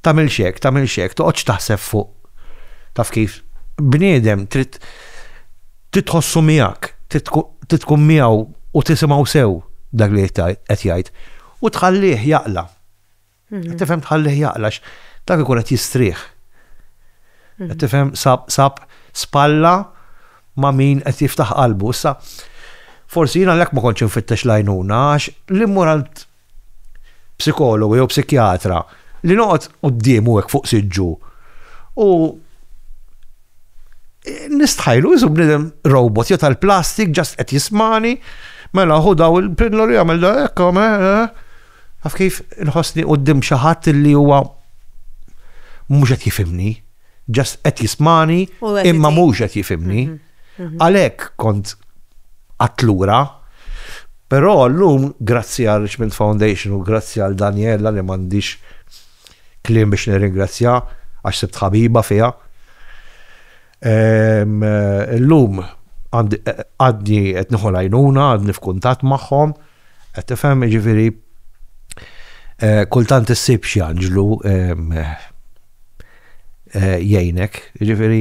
tagħmilx hekk, tagħmilx hekk, toqgħodx taħseb fuq taf kif bniedem trid titħossu miegħek, trid tkun miegħu u tisimgħu sew dak li qed jgħid u tħallih jaqla. Mhm. Tifhem tħallih jaqla dak ikun qed jistrieħ. Mhm. Tifhem sab sab spalla ma' min qed jiftaħ qalbu. Issa, forsi jiena l ma kontx infittex lajnuna għax l-immoralt psikologu jew psikjatra li noqgħod quddiemu hekk fuq siġġu u nistħajlu iżu bnidem robot jew tal-plastik ġast qed jismani mela hu daw il-pilloli jagħmel da hekk għaf kif inħossni qudiem xi ħadd li huwa mhux qed jifimni, ġast qed jismani imma mhux qed jifimni. Mhm. Għalhekk kont qatt lura. Però llum grazzi għal Richmond Foundation u grazzi għal Daniella li m'għandix kliem biex nirringrazzja għax sibt ħabiba fiha. Illum għadni qed nieħu l-għajnuna, għadni f'kuntatt magħhom, qed tifhem, jiġifieri Eh, kultant issib xi anġlu eh, jgħinek, ġifieri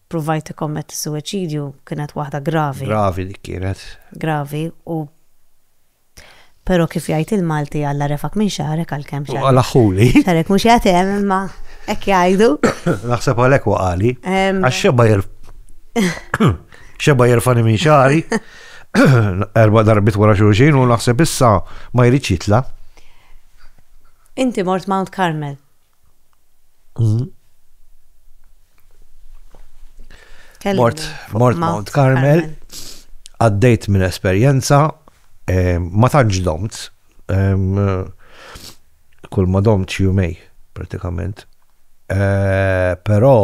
ppruvajt tikkommetti s-suwiċidju kienet waħda gravi. Gravi dik kienet. Gravi u Pero kif jgħid il-Malti għalla refak minn xarek għal kem xarek. Għalla xuli. Xarek mux jgħatem imma ek jgħajdu. Naħseb għalek waqali. Għax xeba jirf. Xeba jirfani minn xari. Erba darbit wara xulxin u naħseb issa ma jridx jitla. Inti mort Mount Carmel. Mort, mort Mount Carmel, għaddejt minn esperjenza, eh, ma tantx domt, eh, kull ma domt jumej, pratikament. Eh, però,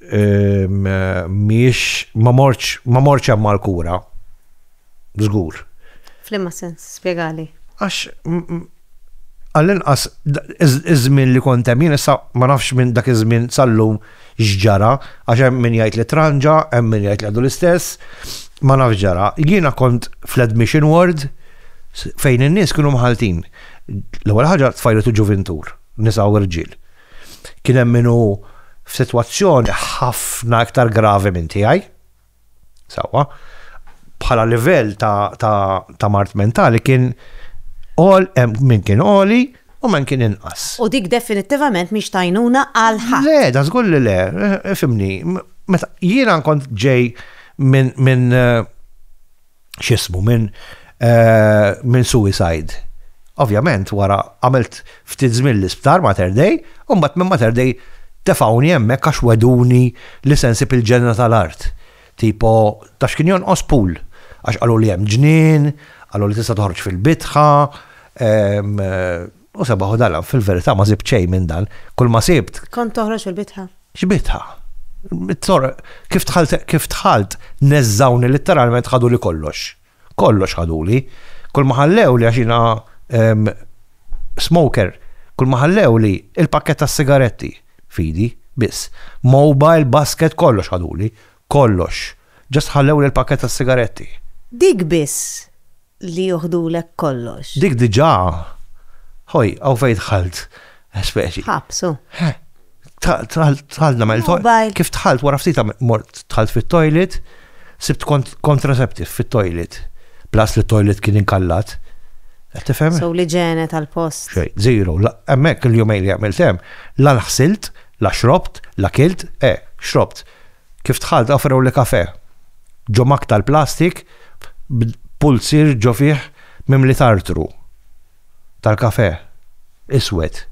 Mhijiex ma mortx ma mortx hemm għall-kura. Żgur. Flimma sens, spjegali. Għax għall-inqas iż-żmien li kont hemm jien issa ma nafx minn dak iż-żmien sal-lum x'ġara għax hemm min jgħid li tranġa, hemm min jgħid li għadu l-istess, ma nafx x'ġara. Jiena kont fl-admission ward fejn in-nies kienu mħalltin. L-ewwel ħaġa tfajliet u ġuvintur, nisa u rġiel. Kien hemm min hu f'sitwazzjoni ħafna iktar gravi minn tiegħi. Sewwa, bħala livell ta', ta, ta mart mentali kien għol, min kien għoli u men kien inqas. U dik definittivament miex tajnuna għal ħadd. Le, da żgur li le, fimni, meta jiena nkont ġej minn min eh, xismu minn eh, minn suicide. Ovvjament wara għamilt ftit żmien l-isptar Mater Dei, u mbagħad minn Mater Dei tefawni hemmhekk għax weduni li sensib il-ġenna tal-art. Tipo, tax kien jonqos pool, għax qalu li hemm ġnien, qalu li tista' toħroġ fil-bitħa, ehm, U sebaħ u dala, fil-verità ma sibt xejn minn dan, kull ma sibt. Kont toħroġ il-bitħa. X'bitħa? It-tor, kif tħalt, kif tħalt, neżżawni litteralment ħadu li kollox. Kollox ħadu li. Kull ma ħallew li għaxina ehm, smoker, kull ma ħallew li il-pakket tas-sigaretti, fidi, biss. Mobile, basket, kollox ħadu li. Kollox. Just ħallewli l-pakkett tas-sigaretti. Dik biss li joħdulek kollox. Dik diġà. Ħoj, hawn fejn dħalt. Speċi. Ħabs, hu. Dħalt nagħmel toilet. Kif dħalt wara ftit mort dħalt fit-toilet, sibt contraceptive fit-toilet. Plus li t-toilet kien inkallat. Tifhem? So li ġene tal-post. Xej, zero. Hemmhekk il-jumejn li għamilt hemm, la l-ħsilt, la xrobt, la kilt, eh, xrobt. Kif dħalt offrewli kafè. Ġo mug tal-plastik b'pulzier ġo fih mimli tartru tal-kafè iswed.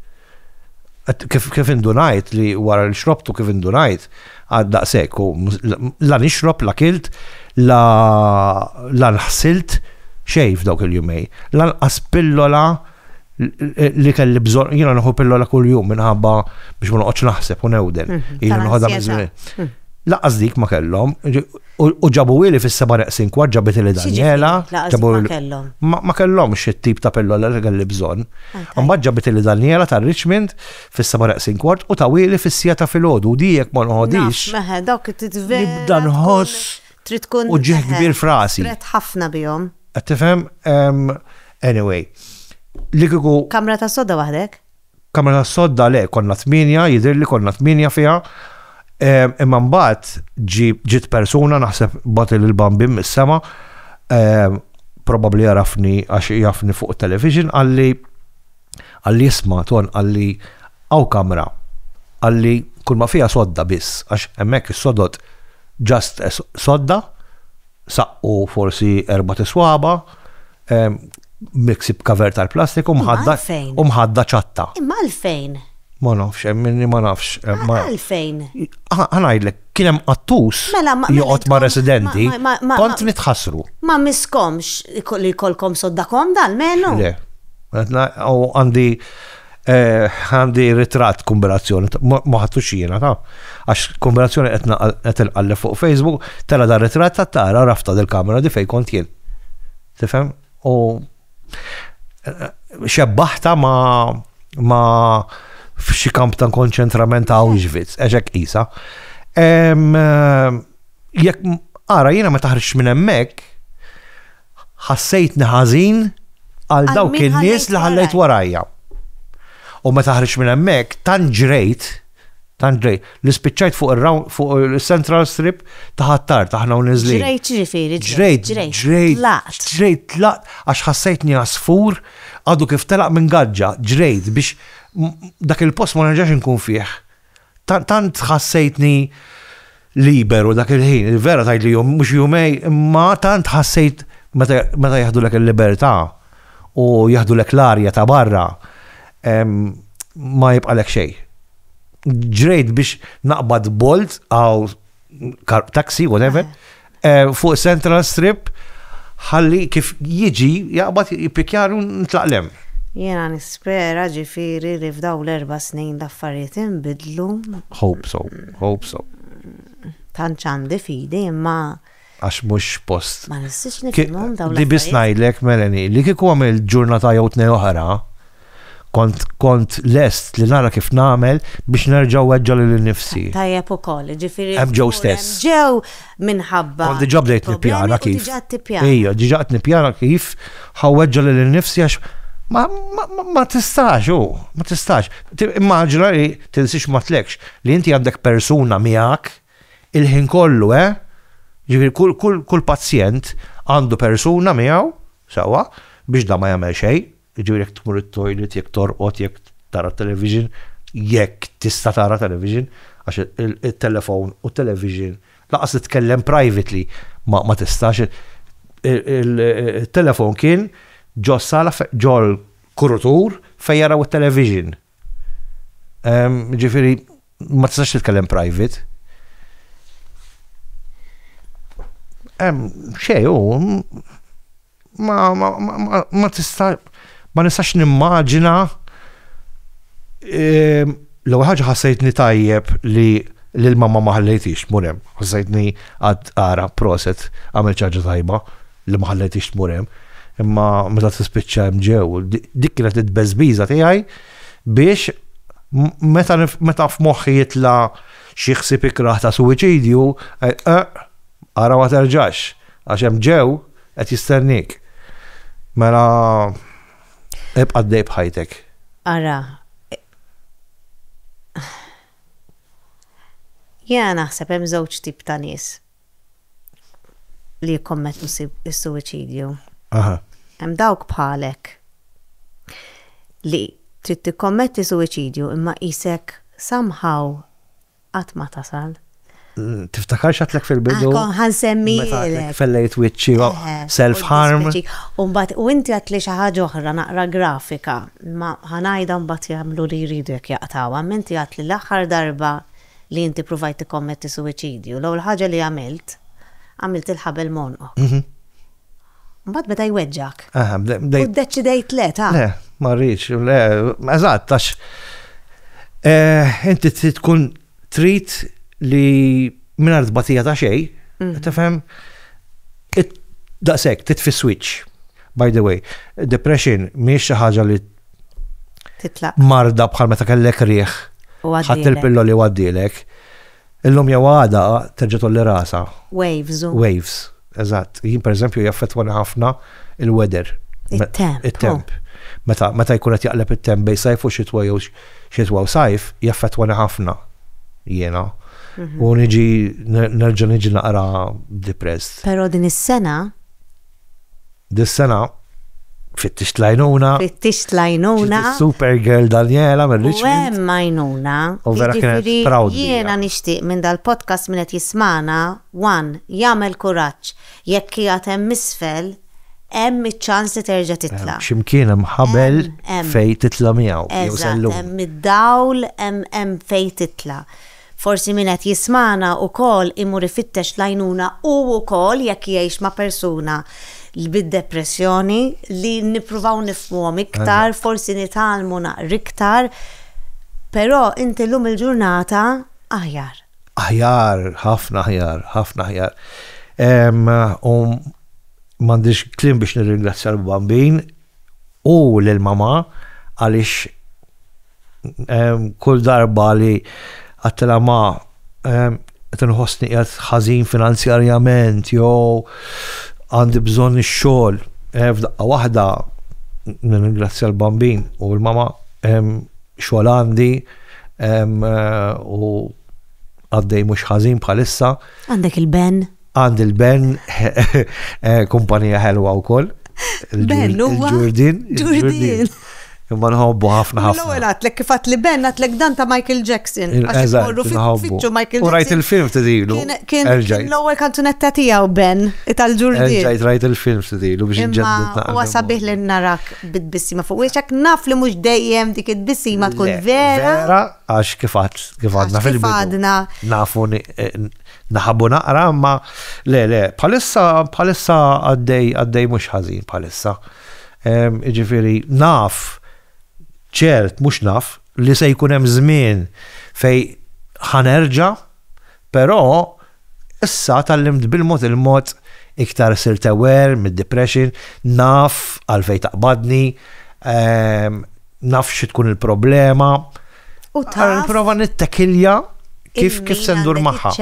Kif indunajt li wara li xrobtu kif indunajt għad daqshekk u la nixrob la kilt la la nħsilt xejn f'dawk il-jumej. Lanqas pillola li kelli bżon, jina nħu pillola kull jum minħabba biex ma noqgħodx naħseb u newden. Mhm. Jina nħodha minn żmien. Mhm. Laqas dik ma kellhom, u ġabu ili fis-seba' neqsin kwart ġabet li Daniela. Ġabu kellhom. Ma kellhom xi tip ta' pillola li kelli bżonn. Mbagħad ġabet li Daniela ta' Richmond fis-seba' neqsin kwart u ta' ili fis-sija ta' filgħodu u dijek ma nħodix. Meħe dawk titvedu. Nibda nħoss. Trid tkun. Uġigħ kbir f'rasi. Strett ħafna bihom. Qed tifhem? Anyway. Li kieku. Kamra tas-sodda waħdek? Kamra tas-sodda le, konna tmienja, jidhirli konna tmienja fiha. Imma mbagħad ġiet persuna naħseb bagħti lil bambin mis-sema probabbli jarafni għax jafni fuq television qalli Qalli isma' Ton qalli hawn kamra qalli kull ma fiha sodda biss għax hemmhekk is-sodod just sodda saqqu forsi erbat iswaba' miksi b'cover tal-plastik u mħadda u mħadda ċatta. Imma għalfejn? Ma nafx hemm inni ma nafx. Għalfejn? Ħa ngħidlek. kien hemm qattus Mela, ma- joqgħod ma' ma- residenti, ma- ma- ma- kont ma- nitħassru. Ma miskomx iko- li kolkom soddakom dal-menu? Le. Għetna, u għandi eh, għandi ritrat kombinazzjoni, ta- ma ma ħadtux jiena, ta? Għax kombinazzjoni qed naqal- qed inqalleb fuq Facebook, tara dar ritrat ta' tara rafta del-kamera di fej kont jien. Tifhem? U xebbaħta ma ma f'xi kamp ta' konċentrament ta' Auschwitz, eġek isa. Jekk ara jiena ma taħriġ minn hemmhekk, ħassejt neħażin għal dawk in-nies li ħallejt warajja. U ma taħriġ minn hemmhekk tant ġrejt Tant ġrejt, li spiċċajt fuq ir-round, fuq il-central strip ta' Ħ'Attard, aħna u niżlin. Ġrejt x'ġifieri ġrejt? Ġrejt, ġrejt, tlaqt. Ġrejt, tlaqt għax ħassejtni għasfur għadu kif telaq minn gaġġa, ġrejt biex dak il-post ma nerġax inkun fih. Tant ħassejtni. liberu dak il-ħin, il-vera tgħid li jum mhux jumej, imma tant ħassejt meta jaħdulek il-libertà u jaħdulek l-arja ta' barra ma jibqalek xejn. Ġrejt biex naqbad bolt għaw taxi, whatever, eh, fuq Central Strip ħalli kif jiġi jaqbad jipikjaru nitlaqlem. Jena nispera ġifiri li f'daw l-erba snin l-affarijiet imbidlu. Hope so, hope so. Tanċandi fidi imma għax mux post. Ma nistix nifimum daw l Li bisnajlek, Melanie, li kiku għamil ġurnata jew tnej oħra, Kont, kont lest li nara kif nagħmel biex nerġa' nweġġa' lil innifsi. Tajjeb ukoll, jiġifieri. Hemm Joe stess. Hemm Joe minħabba. Kont diġà bdejt nippjana kif. Diġà qed tippjana. Ejja, diġà qed nippjana kif ħa nweġġa' lil innifsi għax ma, ma, ma tistax hu, ma tistax. Immaġina li tinsi x'matlekx, li inti għandek persuna miegħek il-ħin kollu, eh? Jiġifieri kull, kull, kull pazjent għandu persuna miegħu, sewwa, biex dan ma jagħmel xejn. Jiġifieri jekk tmur it-toilet, jekk torqod, jekk tara t-television, jekk tista' tara television, għax it-telefown u t-television lanqas li tkellem privately ma tistax, it-telefown kien ġo s-sala ġol-kurutur fejn jaraw it-television. Ġifieri ma tistax titkellem private. Xej, ma tista' ma nistax nimmaġina l-ewwel ħaġa ħassejtni tajjeb li lill-mamma ma ħallejthiex tmur hemm. Ħassejtni għad Għarab proset għamilt xi ħaġa tajba. li ma ħallejtix tmur hemm, imma meta tispiċċa hemm ġew, dik kienet it-tbeżbiża tiegħi biex meta meta f'moħħi jitla xi ħsieb ikrah ta' suwiċidju, eh, eh, ara ma terġax, għax hemm ġew qed jistennik. Mela ibqa' dej bħajtek. Ara. Jena naħseb hemm żewġ tip ta' nies. li jikkommettu s-suwiċidju. Aha. Hemm dawk bħalek li trid tikkommetti suwiċidju imma qisek somehow qatt ma tasal. Tiftakarx għadtlek fil-bidu? Kon ħa nsemmilek. Fellejt wiċċi self harm. U mbagħad u inti għadtli xi ħaġa oħra naqra grafika, ma ħa ngħidha mbagħad jagħmlu li jridu jekk jaqtgħuha, imma inti għadtli l-aħħar darba li inti pruvajt tikkommetti suwiċidju, l-ewwel ħaġa li għamilt, għamilt il-ħabel m'għonqok. Mbagħad beda jweġġgħek. U ddeċidejt le ta'. Le, ma rridx, le, eżatt, għax eh, inti tkun trid li mingħajr tbatija ta' xejn, mm. tifhem, daqshekk titfi switch. By the way, depression mhijiex xi ħaġa li titlaq. Marda bħal meta kellek riħ. Ħadd il-pillo li waddilek. Illum jew għada terġa' tolli rasa. Waves. Waves. Eżatt. Jien pereżempju jaffettwani ħafna il-weather. It-temp. It-temp. Meta meta jkun qed jaqleb it-temp bej sajf u xitwa jew xitwa u sajf jaffettwani ħafna. Jiena. Mhm. U niġi nerġa' niġi naqra depressed. Però din is-sena Dis-sena fittixt lajnuna. Fittixt lajnuna. Supergirl Daniela minn Richmond. Hemm lajnuna. U vera kienet jiġifieri proud. Jiena nixtieq minn dal-podcast minn qed jismana, one, jagħmel kuraġġ jekk qiegħed hemm isfel hemm iċ-ċans li terġa' titla'. X'imkien hemm ħabel fejn titla' miegħu jew sallum. Hemm id-dawl hemm fejn titla'. Forsi min qed jismagħna wkoll imur ifittex l-għajnuna hu wkoll jekk jgħix ma' persuna bid-depressjoni li nippruvaw nifhmuhom iktar, forsi nitgħallmu naqra iktar, però inti llum il-ġurnata aħjar. Aħjar, ħafna aħjar, ħafna aħjar. U m'għandix kliem biex nirringrazzja lill-Bambin. u lil mamà għaliex kull darba li għattilha ma qed inħossni qiegħed ħażin finanzjarjament jew għandi bżonn ix-xogħol f'daqqa waħda nirringrazzja l-bambin u l-mamà xogħol għandi u għaddej mhux ħażin bħalissa. Għandek il-ben? Għand il-Ben, eh, kumpanija ħelwa u koll. Ben, u Ġurdin. Ġurdin. Imma nħobbu ħafna ħafna. L-ewwel għatlek kif għatli Ben għatlek dan ta' Michael Jackson. Eżatt, nħobbu. U rajt il-film t-dilu. Kien l-ewwel kanzunetta tiegħu Ben, tal-Ġurdin. Rajt rajt il-film t-dilu biex nġeddu. U għasabih li narak bid-bissima fuq wieċek naf li mhux dejjem dik id-bissima tkun vera. Vera, għax kif għadna fil-bidu. Nafu eh, Naħabu naqra, imma le, le, bħalissa, bħalissa għaddej, għaddej mhux ħażin bħalissa. Ġifieri naf, ċert mhux naf, li se jkun hemm żmien fej ħanerġa, però issa tallimt bil-mod il-mod iktar sirt aware mid-depression, naf għalfej taqbadni, naf xi tkun il-problema. U ta' nipprova nittekilja kif kif se ndur magħha.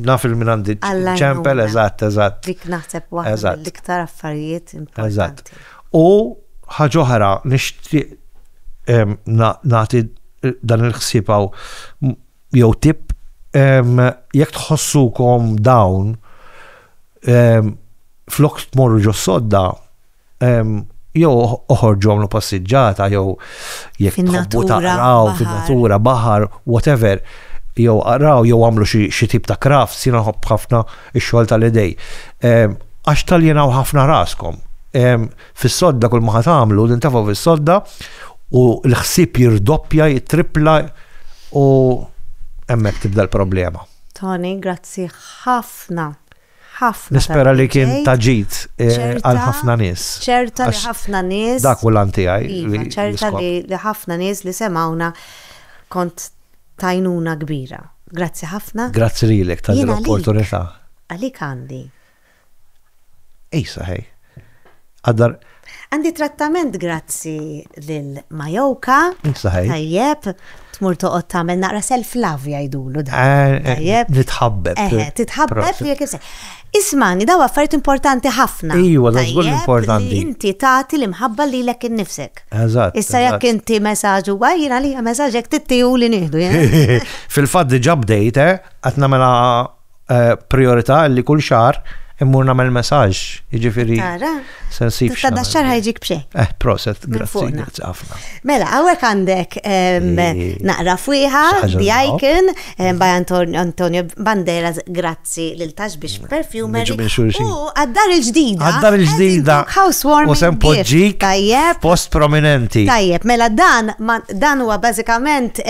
Naf il-min għandi ċempel, eżatt, eżatt. Dik naħseb waħda l-iktar affarijiet importanti. U ħaġa oħra nixtieq nagħti dan il-ħsieb jew tip jekk tħossukom dawn flok tmorru ġo sodda jew oħorġu għamlu passiġġata jew jekk tħobbu taqraw fin-natura, baħar, whatever, jew qraw jew għamlu xi tip ta' kraft, sina ħobb ħafna x-xogħol tal-idej. Għax tal-jenaw ħafna raskom. Fis-sodda kull ma għamlu, nintafaw fis-sodda u l-ħsib jirdoppja, jitripla u hemmhekk tibda l-problema. Tony, grazzi ħafna ħafna. Nispera li kien ta' ġid għal ħafna nies. Ċerta li ħafna nies. Dak hu l-għan tiegħi. Iva, ċerta li ħafna nies li semgħuna kont tajnuna kbira. Grazzi ħafna. Grazzi lilek tal-opportunità. Għalik għandi. Ejsa, ħej. Għaddar. Għandi trattament grazzi lil Majoka. Saħaj. Tajjeb, tmur toqgħod tagħmel naqra self-love jgħidulu da. Eh, eh, Tajjeb. Nitħabbeb. Eh, titħabbeb jekk isek. Ismani, daw affarijiet importanti ħafna. Ejwa, da żgur importanti. Inti tagħti l-imħabba li lek innifsek. Eżatt. Issa jekk inti messaġġ huwa jien għalija messaġġ jekk tittiju li nieħdu. Fil-fatt diġà bdejt, eh, qed nagħmilha eh, priorità li kull xar immur nagħmel messaġġ, jiġifieri sensib. Ta' da xar ħajġik b'xej. Eh, proset, grazzi, grazzi ħafna. Mela, hawnhekk għandek naqra fwiħa, The Icon, by Antonio Banderas, grazzi lil tax biex perfumer. U għaddar il-ġdida. Għaddar il-ġdida. Housewarming. U sem poġġik. Post prominenti. Tajjeb, mela dan dan huwa bażikament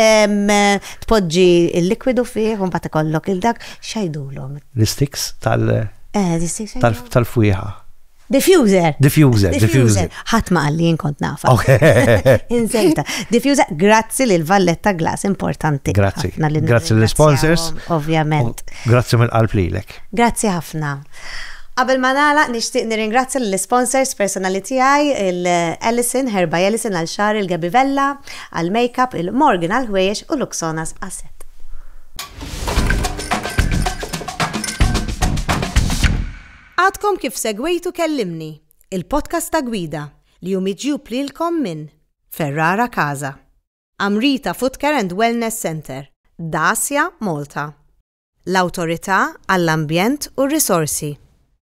Tpoġġi l-likwidu fih u mbagħad ikollok il-dak x'għidulhom. L-istiks tal- Eh, l-istiks tal-fwieħa. Diffuser. Diffuser, diffuser. Ħadd ma qalli jien kont nafa. Inżelta. Diffuser, grazzi lil Valletta Glass, importanti. Grazzi. Grazzi lill sponsors Ovvjament. Grazzi mill-qalb lilek. Grazzi ħafna. Qabel ma nagħlaq nixtieq nirringrazzja lill-isponsors personali tiegħi, il-Ellison, Herba Ellison għal xar il-Gabivella, Għall-makeup il-Morgan għall-ħwejjeġ u Luxonas għas-sett. Għadkom kif segwejtu Kellimni, il-podcast ta' Gwida, li hu miġjub lilkom minn Ferrara Casa, Amrita Footcare and Wellness Centre, Dacia Malta, l-Awtorità għall-Ambjent u r-Risorsi,